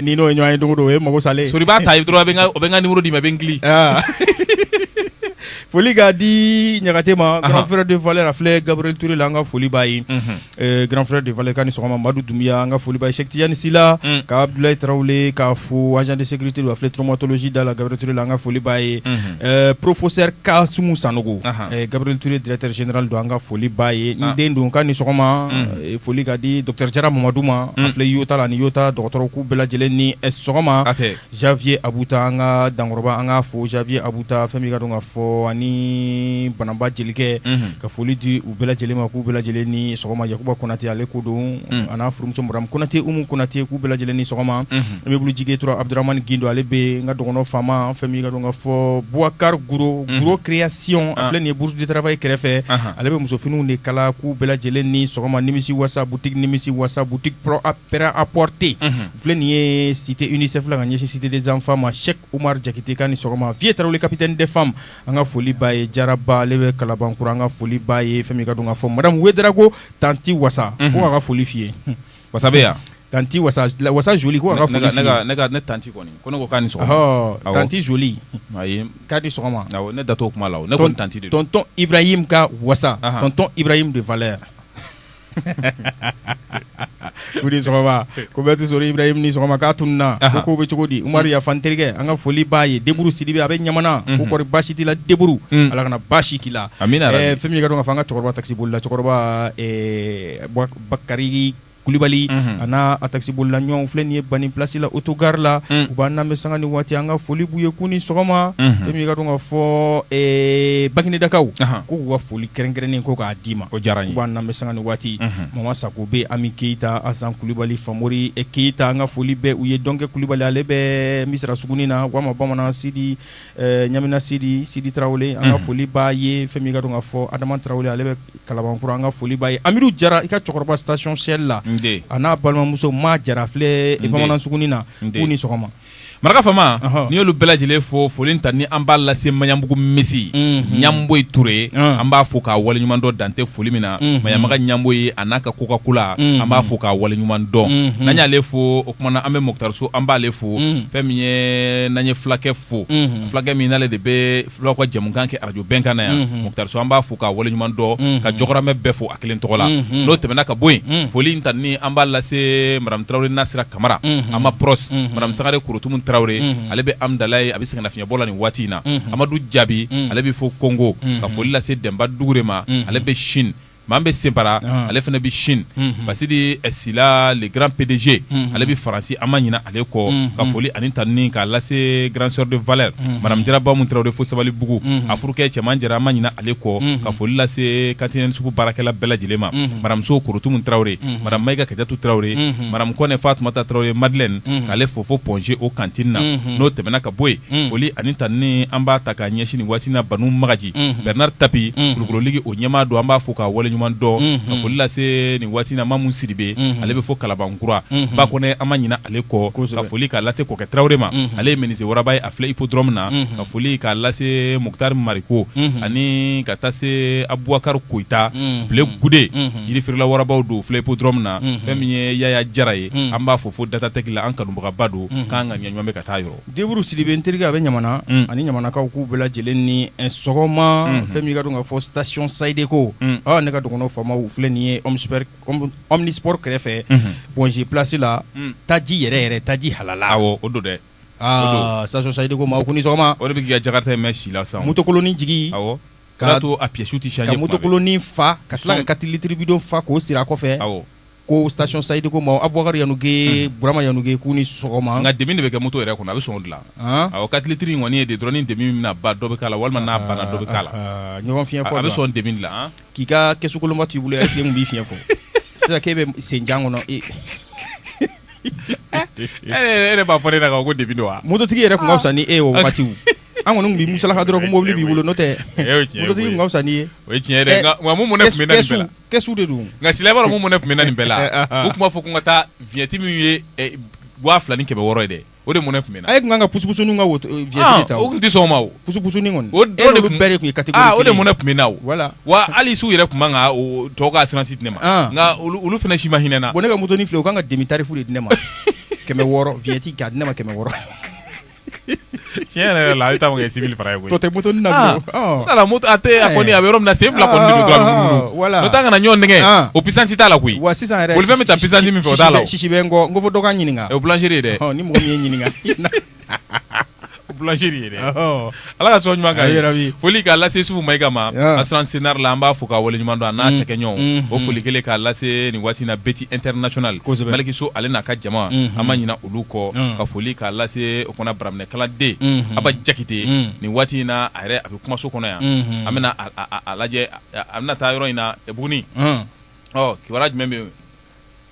ni n'o ye ɲɔgɔn ye don o don o ye mako salen i b'a ta dɔrɔn o bɛ n ka numéro d'i ma i bɛ n kili foli ka di ɲagate ma grand frère de valeur a filɛ gabriel touré la an ka foli b'a ye grand frère de valeur k'a ni sɔgɔma madu dunbiya an ka foli b'a ye sɛki tijani sila ka abudulayi tarawele k'a fo agent de sécurité a filɛ traumatologie da la gabriel touré la an ka foli b'a ye professeur kasumu sanogo gabriel touré directeur général don an ka foli b'a ye n den don k'a ni sɔgɔma foli ka di docteur jara mamadu ma a filɛ yota la ni yota dɔgɔtɔrɔ k'u bɛɛ lajɛlen ni sɔgɔma janvier abuta an ka dankɔrɔba an ka fo janvier abuta fɛn min ka dɔn ka fɔ ani banamba jelikɛ ka foli di u bɛɛ lajɛlen ma k'u bɛɛ lajɛlen ni sɔgɔma yakuba konate ale ko don a n'a furumuso madame konate umu konate k'u bɛɛ lajɛlen ni sɔgɔma Immeuble Jige dɔrɔn Abuduramani Gindo ale bɛ n ka dɔgɔnɔ faama fɛn min ka dɔn ka fɔ Bukari Guro guro création a filɛ nin ye bourse du travail kɛrɛfɛ ale bɛ musofiniw de kala k'u bɛɛ lajɛlen ni sɔgɔma nimisi wasa boutique nimisi wasa boutique prêt-à-porter filɛ nin ye cité UNICEF la ka ɲɛsin cité des enfants ma Cheick Oumar Diakite k'a ni sɔgɔma Vieux Tarawele capitaine des femmes an ka foli b'a ye Jaraba ale bɛ kalabankura an ka foli b'a ye fɛn min ka dɔn ka fɔ madame Wederago tanti wasa ko k'a ka foli f'i ye wasa bɛ yan tanti wasa la- wasa joli ko a ka ne foli ka- f'i ne ye. ka- ne ka ne tanti kɔni ko ne ko k'a ni sɔgɔma Ɔhɔ, Awɔ. tanti joli ayi k'a ni sɔgɔma awɔ ne da t'o kuma la o ne Ton- kɔni tanti de don tonton ibrahim ka wasa Ahan. tonton ibrahim de valeur k'i ni sɔgɔma ko bɛɛ tɛ sɔrɔ ibrahim ni sɔgɔma k'a tununa ko Ahan. kow bɛ cogo di umaru yafan terikɛ an ka foli b'a ye deburu sidibe a bɛ ɲamana ko kɔri baasi t'i la deburu Mm. ala kana baasi k'i la Amina yarabi. Eh, fɛn min ye ka dɔn ka fɔ an ka cɛkɔrɔba takisibolila cɛkɔrɔba eh, Bwa- bakari kulubali a n' a takisibolila ɲɔgɔnw u filɛ nin ye bani plasi la autogare la u b'an lamɛn sanga ni waati an ka foli b'u ye k'u ni sɔgɔma fɛn min ye ka dɔn ka fɔ baginedakaw ko k'u ka foli kɛrɛnkɛrɛnnen ko k'a d'i ma o diyara u b'an lamɛn sanga ni waati mama sako bɛ ami keyita asan kulubali famori keyita an ka foli bɛ u ye dɔnkɛ kulubali ale bɛ misira sugunin na walima bamanan sidi Eh, ɲamina sidi sidi tarawele an ka foli b'a ye fɛn min ka dɔn ka fɔ adama tarawele ale bɛ kalabankura an ka foli b'a ye amidu jara i ka cɛkɔrɔba station Shell la a n'a balimamuso ma jara filɛ bamanan sugunin na k'u ni sɔgɔma maraka fama n'i y'olu bɛɛ lajɛlen fo foli tanni an b'a lase maɲanbugu misi mhm. ɲamboyi ture ye an b'a fo k'a waleɲuman dɔn dan tɛ foli min na mhm. maɲamaga ɲamboyi a n'a ka coca-cola an mhm. b'a fo k'a waleɲuman dɔn n'an y'ale fo kuma na an bɛ mɔkutari so an b'ale fo mm. fɛn min ye n'an ye fulakɛ fo mm-hmm. fulakɛ min n'ale de bɛ fulaw ka jɛmukan kɛ arajo bɛnkan na yan mm-hmm. mɔkutari so an b'a fo k'a waleɲuman dɔn mm-hmm. ka jɔgɔramɛ bɛɛ fo a kelen tɔgɔ la n'o tɛmɛna ka bɔ yen mm. foli in tanni an b'a lase madame tarawele nasira kamara an ma pros madame sangare korotumu tarawele ale bɛ amidalayi a bɛ sɛgɛnnafiɲɛbɔ la nin waati in na amadu jaabi ale bɛ fo kongo ka foli lase dɛnba dugure ma ale bɛ Chine manbe sinpara ale fana bɛ Chine basidi sila le grand PDG ale bɛ faransi an ma ɲina ale kɔ ka foli ani tanni k'a lase grande sœur de valeur madame jara bamu tarawele fo sabalibugu a furukɛ cɛman jara an ma ɲina ale kɔ ka foli lase cantine sugu baarakɛla bɛɛ lajɛlen ma madame so korotumu tarawele madame mayiga kajatu tarawele madame kɔnɛ fatumata tarawele madeleine k'ale fo fo Point G o cantine na n'o tɛmɛna ka bɔ yen foli ani tanni an b'a ta k'a ɲɛsin waatiina ban makanji bernard tapi kulukoro ligi o ɲɛmaa don an b'a fo k'a wale ɲuman dɔn ka foli lase nin waati na mamu sidibe ale bɛ fo kalabankura ba kɔ an ma ɲina ale kɔ ka foli k'a lase kɔkɛ tarawele ma ale ye menuisier waraba ye a filɛ hippodrome na ka foli k'a lase moctar mariko ani ka taa se abubakari koyita bile gude yirifeerela warabaw don filɛ hippodrome na fɛn min ye yaya jara ye an b'a fo fo datatech la an kanubagaba don k'an ka ŋaniya ɲuman bɛ ka taa yɔrɔ Deburu sidibe n terikɛ a bɛ ɲamana ani ɲamanakaw k'u bɛɛ lajɛlen ni sɔgɔma fɛn min ka dɔn ka fɔ station sayidiko ne ka dɔgɔnɔ faamaw filɛ nin ye omnisport kɛrɛfɛ point g place la taji yɛrɛ yɛrɛ taji halala o don dɛ station sayidiko maaw ko ni sɔgɔma o de bɛ k'i ka jakarta mɛɛn si la sisan motokolonin jigi k'a to a pièce tɛ changer ka motokolonin fa ka tila ka quatre litres bidon fa k'o siri a kɔfɛ ko station sayidiko maaw abubakar yanuge burama yanuge k'u ni sɔgɔma nka demi de bɛ kɛ moto yɛrɛ kɔnɔ a bɛ sɔn o de la awɔ quatre litres in kɔni ye de dɔrɔn ni demi bɛna ban dɔ bɛ k'a la walima n'a banna dɔ bɛ k'a la ɲɔgɔn fiɲɛ fɔ a bɛ sɔn demi de la k'i ka kɛsukolonba t'i bolo est-ce que mun b'i fiɲɛ fɔ sisan k'e bɛ senjan kɔnɔ e e yɛrɛ b'a fɔ ne ɲɛna ko demi don wa mototigi yɛrɛ tun ka fisa ni e ye o wagatiw an kɔni b'i musalaka dɔrɔn ko mobili b'i bolo n'o tɛ fisa n'i ye o tiɲɛ de don nka sila mun mɔnɛ tun bɛ n na nin bɛɛ la u tun b'a fɔ ko ka taa vignette min ye waa fila ni kɛmɛ wɔɔrɔ ye dɛ o de mɔnɛ tun bɛ n na e tun kan ka pusupusuni ka vignette ta o tun tɛ sɔn o ma pusupusuni kɔni o de tun bɛɛ de tun o de mɔnɛ tun bɛ n na voilà wa hali su yɛrɛ tun ka tɔw ka assurance di ne ma nka olu fana si ma hinɛ n na ko ne ka motoni filɛ u kan ka demi tarifu de di ne ma kɛmɛ wɔɔrɔ vignette di ne ma kɛmɛ wɔɔrɔ tiɲɛ yɛrɛ la a ta ma kɛ six mille francs ye tɔ tɛ motoni na ah. oh. a a kɔni a bɛ yɔrɔ min na sen fila kɔni don dɔrɔn ah, voilà n'o tɛ an kana ɲɔgɔn nɛgɛ ah. o puissance t'a la koyi wa sisan yɛrɛ bolifɛn bɛ taa puissance min fɛ o t'a la sisi bɛ n kɔ n kɔ fo dɔ ka ɲininka o ye boulangerie ye dɛ ni mɔgɔ min ye ɲininka boulangerie ye dɛ ala ka sɔn ɲuman kan yɛrɛ bi foli k'a lase usufu mayiga ma assurance cnar la an b'a fo k'a wale ɲuman dɔn a n'a mm. cɛkɛɲɔgɔnw mm. o foli kelen k'a lase nin waati na beti international maliki so ale n'a ka jama mm-hmm. an ma ɲina olu kɔ mm. ka foli k'a lase o kɔnɔ baraminɛ kalanden mm-hmm. aba jakite nin waati in na a yɛrɛ a bɛ kumaso kɔnɔ yan mm-hmm. an bɛna a lajɛ a bɛna taa yɔrɔ in na buguni ɔ kibaruya jumɛn bɛ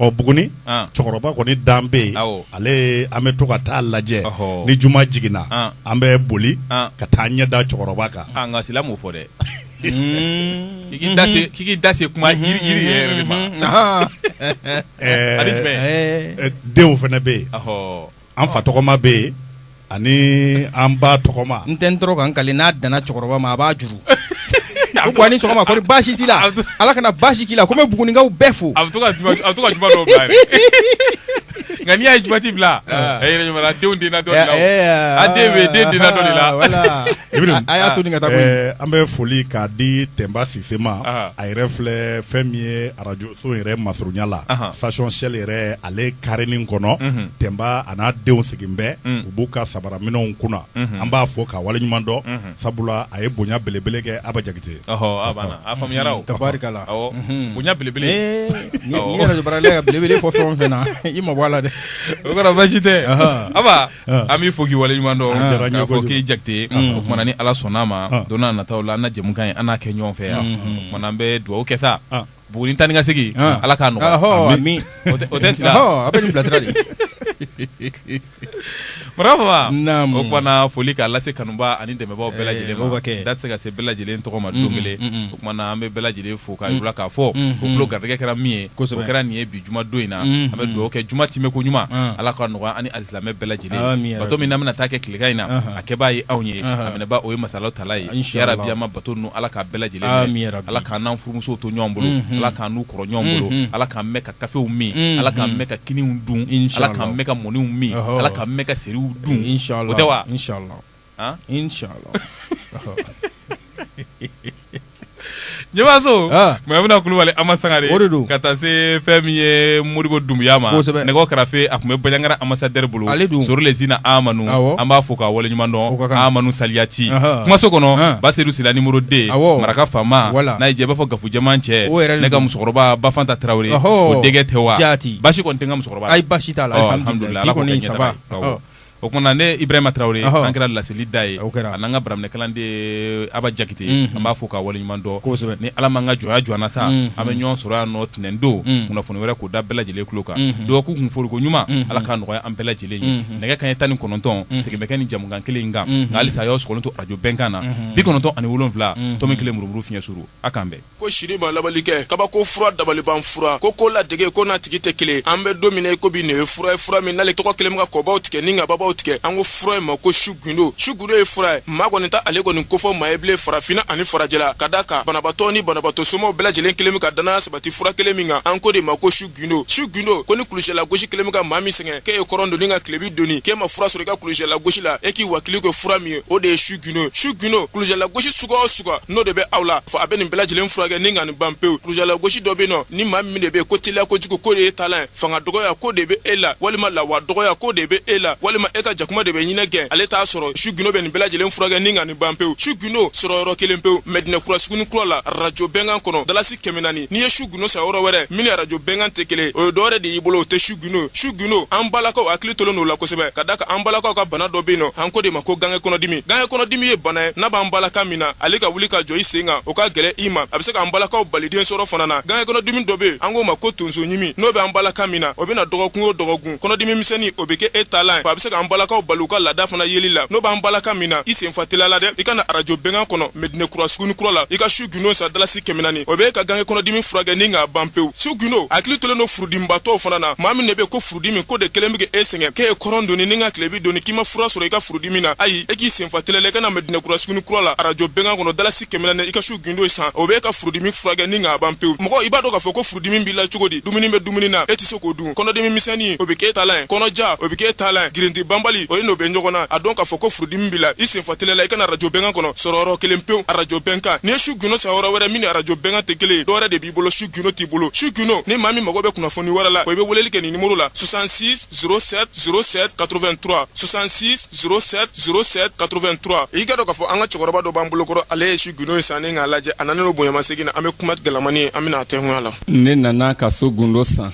ɔ Buguni an, cɛkɔrɔba kɔni dan bɛ yen Awɔ. ale ye- an bɛ to ka taa lajɛ Ɔhɔ. ni juma jiginna An. an bɛ boli An. ka taa ɲɛ da cɛkɔrɔba kan nka sila m'o fɔ dɛ k'i k'i da se- k'i k'i da se kuma yiri yiri yɛrɛ de ma Ɛɛ, ani jumɛn Ɛɛ, ɛɛ, denw fana bɛ yen Ɔhɔ. An fa tɔgɔma bɛ yen ani an ba tɔgɔma n tɛ n tɔɔrɔ ka n kali n'a danna cɛkɔrɔba ma a b'a juru a ni sɔgɔma baasi t'i la ala kana baasi k'i la ko bɛ bugunikaw bɛɛ fo a nka n'i ye jumati bila denw den dɔ la a den bɛ den den dɔ la a y'a to ka taa an bɛ foli k'a di tɛnba sise ma a yɛrɛ filɛ fɛn min ye arajo so yɛrɛ masurunya la Ahan. station shell yɛrɛ ale karinin kɔnɔ Unhun. Tenba a n'a denw sigin bɛ Mm. u b'u ka sabaraminɛnw kunna Unhun. an b'a fo k'a waleɲuman dɔn Unhun. sabula a ye bonya belebele kɛ Aba Jakite Ɔhɔ, a banna. A faamuyara o. Tabarikala. Awɔ. Mhm. Bonya belebele. Ee, ni- Awɔ. ni radio baarala ka belebele fɔ fɛn o fɛn na, i mabɔ a la dɛ. O kɔrɔ basi tɛ. Ahan. Aba, Ahan. an b'i fo k'i waleɲuman dɔn. A diyara n ye K'a fɔ kojugu. k'i Jakite. Ahan. O tumana ni Ala sɔnn'a ma, Ahan. don n'a nataw la, an na jɛmukan in, an n'a kɛ ɲɔgɔn fɛ yan. Unhun. O tumana an bɛ dugawu kɛ sa. Ahan. Buguni taa ni ka segin ala k'a nɔgɔya o tɛ sigi a bɛ bilasira de o kumana foli k'a lase kanuba ani dɛmɛbagaw bɛɛ lajɛlen ma da tɛ se ka se bɛɛ lajɛlen tɔgɔ ma don kelen o kumana an bɛ bɛɛ lajɛlen fo k'a yir'u la k'a fɔ u garijɛgɛ kɛra min ye kosɛbɛ kɛra nin ye bi juma don in na an bɛ dugawu kɛ juma timɛ ko ɲuman ala k'a nɔgɔya ani alisilamɛ bɛɛ lajɛlen bato min na bɛna taa kɛ tilegan in na a kɛbaa ye anw ye a minɛbaa o ye masa ala ta bi ma bato ninnu ala k'a bɛɛ lajɛlen ala k'an n'an furumusow to ɲɔgɔn bolo ala k'an n'u kɔrɔ ɲɔgɔn bolo ala k'an mɛn ka kafew min ala k'an mɛn ka kiniw dun ala k'an mɛn ka mɔniw min ala k'an mɛn ka seriw dun o tɛ wa ɲɛmaso mayimuna kulubali ama sangare o de don ka taa se fɛn min ye modibo dumuya ma kosɛbɛ nɛgɛw karafe a tun bɛ banjagara ambassadeur bolo ale don sori lezina amanu awɔ an b'a fo k'a waleɲuman dɔn o ka kan amanu saliyati anhan kumaso kɔnɔ an basedu sila nimoro 2 awɔ maraka faama wala n'a y'i diya i b'a fɔ gafujɛman cɛ o yɛrɛ de don ne ka musokɔrɔba bafanta tarawele ɔhɔɔ o denkɛ tɛ wa jaati basi kɔni tɛ n ka musokɔrɔba la ayi basi t'a la ɔ alhamdulilayi bi kɔni ça va awɔ o kumana ne ibrahima tarawele an kɛra laseli da ye a n'an ka baraminɛ kalanden aba jakite an b'a fo k'a wale ɲuman dɔn kosɛbɛ ni ala m'an ka jɔnya joona sa an bɛ ɲɔgɔn sɔrɔ yan nɔ ntɛnɛn don kunnafoni wɛrɛ k'o da bɛɛ lajɛlen tulo kan dɔgɔkun kun foroko ɲuman ala k'a nɔgɔya an bɛɛ lajɛlen ye nɛgɛ kanɲɛ tan ni kɔnɔntɔn segin bɛ kɛ ni jɛmukan kelen in kan nka halisa a y'aw sɔgɔlen to arajo bɛnkan na bi kɔnɔntɔn ani wolonwula tomi kelen murumuru fiɲɛ suuru a k'an bɛn ko siri ma labali kɛ kabako fura dabaliban fura ko ko ladege ko n'a tigi tɛ kelen an bɛ don min na i ko bi nin ye fura ye fura min n'ale tɔgɔ kelen bɛ ka kɔbaw tigɛ ni ka babaw tigɛ an ko fura in ma ko su gundo su gundo ye fura ye maa kɔni t'ale kɔni kofɔ maa ye bilen farafina ani farajɛla ka da kan banabatɔ ni banabatɔ somɔgɔw bɛɛ lajɛlen kelen bɛ ka danaya sabati fura kelen min kan an k'o de ma ko su gundo su gundo ko ni kulusijala gosi kɛlen bɛ ka maa min sɛgɛn k'e ye kɔrɔn doni ka tilebi doni k'e ma fura sɔrɔ i ka kulusijala gosi la e k'i wakili kɛ fura min ye o de ye su gundo su gundo kulusijala gosi suguya o suguya n'o de bɛ aw la fo a bɛ nin bɛɛ lajɛlen furakɛ ni ka nin ban pewu kulusijala gosi dɔ bɛ yen nɔ ni maa min de bɛ yen ko teliya kojugu ko de y'e taalan ye fanga dɔgɔya ko de bɛ e la walima lawa dɔgɔya ko de bɛ e la walima e ka jakuma de bɛ ɲinɛ gɛn ale t'a sɔrɔ su gundo bɛ nin bɛɛ lajɛlen furakɛ ni ka nin ban pewu su gundo sɔrɔ yɔrɔ kelen pewu mɛdinɛ kura suguni kura la rajo bɛnkan kɔnɔ dalasi kɛmɛ naani n'i ye su gundo san yɔrɔ wɛrɛ min ni arajo bɛnkan tɛ kelen o ye dɔwɛrɛ de y'i bolo o tɛ su gundo su gundo an balakaw hakili tolen don o la kosɛbɛ ka da kan an balakaw ka bana dɔ bɛ yen nɔ an k'o de ma ko gange kɔnɔdimi gange kɔnɔdimi ye bana ye n'a b'an balaka min na ale ka wuli ka jɔ i sen kan o ka gɛlɛn i ma a bɛ se k'an balakaw bali den sɔrɔ fana na gange kɔnɔdimi dɔ bɛ yen an k'o ma ko tonso ɲimi n'o bɛ an balaka min na o bɛ na dɔgɔkun o dɔgɔkun kɔnɔdimi misɛnnin o bɛ kɛ e taalan ye a bɛ se k'an balakaw bali u ka laada fana yeli la n'o b'an balaka min na i sen fa teliya la dɛ i ka na arajo bɛnkan kɔnɔ mɛdinɛkura suguni kura la i ka su gundo san dalasi kɛmɛ naani o bɛ e ka gange kɔnɔdimi furakɛ ni k'a ban pewu su gundo hakili tolen don furudimibatɔw fana na maa min de bɛ ko furudimi ko de kɛlen bɛ k'e sɛgɛn k'e ye kɔrɔn doni ni ka tilebi doni k'i ma fura sɔrɔ i ka furudimi na ayi e k'i sen fa teliya la i ka na mɛdinɛkura suguni kura la arajo bɛnkan kɔnɔ dalasi kɛmɛ naani i ka su gundo san o bɛ e ka furudimi furakɛ ni k'a ban pewu mɔgɔ i b'a dɔn k'a fɔ ko furudimi b'i la cogo di dumuni bɛ dumuni na e tɛ se k'o dun kɔnɔdimi misɛnnin o bɛ k'e taalan ye kɔnɔja o bɛ k'e taalan ye girinti banbali o ye n'o bɛ ɲɔgɔn na a dɔn k'a fɔ ko furudimi b'i la i sen fa teliya la i ka na arajo bɛnkan kɔnɔ sɔrɔ yɔrɔ kelen pewu arajo bɛnkan n'i ye su gundo san yɔrɔ wɛrɛ min ni arajo bɛnkan tɛ kelen ye dɔwɛrɛ de b'i bolo su gundo t'i bolo su gundo ni maa min mago bɛ kunnafoni wɛrɛ la o i bɛ weleli kɛ nin nimoro la 66 07 07 83 66 07 07 83 i k'a dɔn k'a fɔ an ka cɛkɔrɔba dɔ b'an bolokɔrɔ ale ye su gundo in san ni k'a lajɛ a nanen don bonyamasegin na an bɛ kuma gɛlɛmani ye an bɛna a tɛnkunya la ne nana ka su gundo san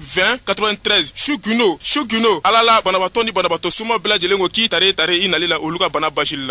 20 93 su gundo su gundo ala la banabaatɔ ni banabaatɔ suma bɛɛ lajɛlen ko k'i tare tare i nali la olu ka bana basili la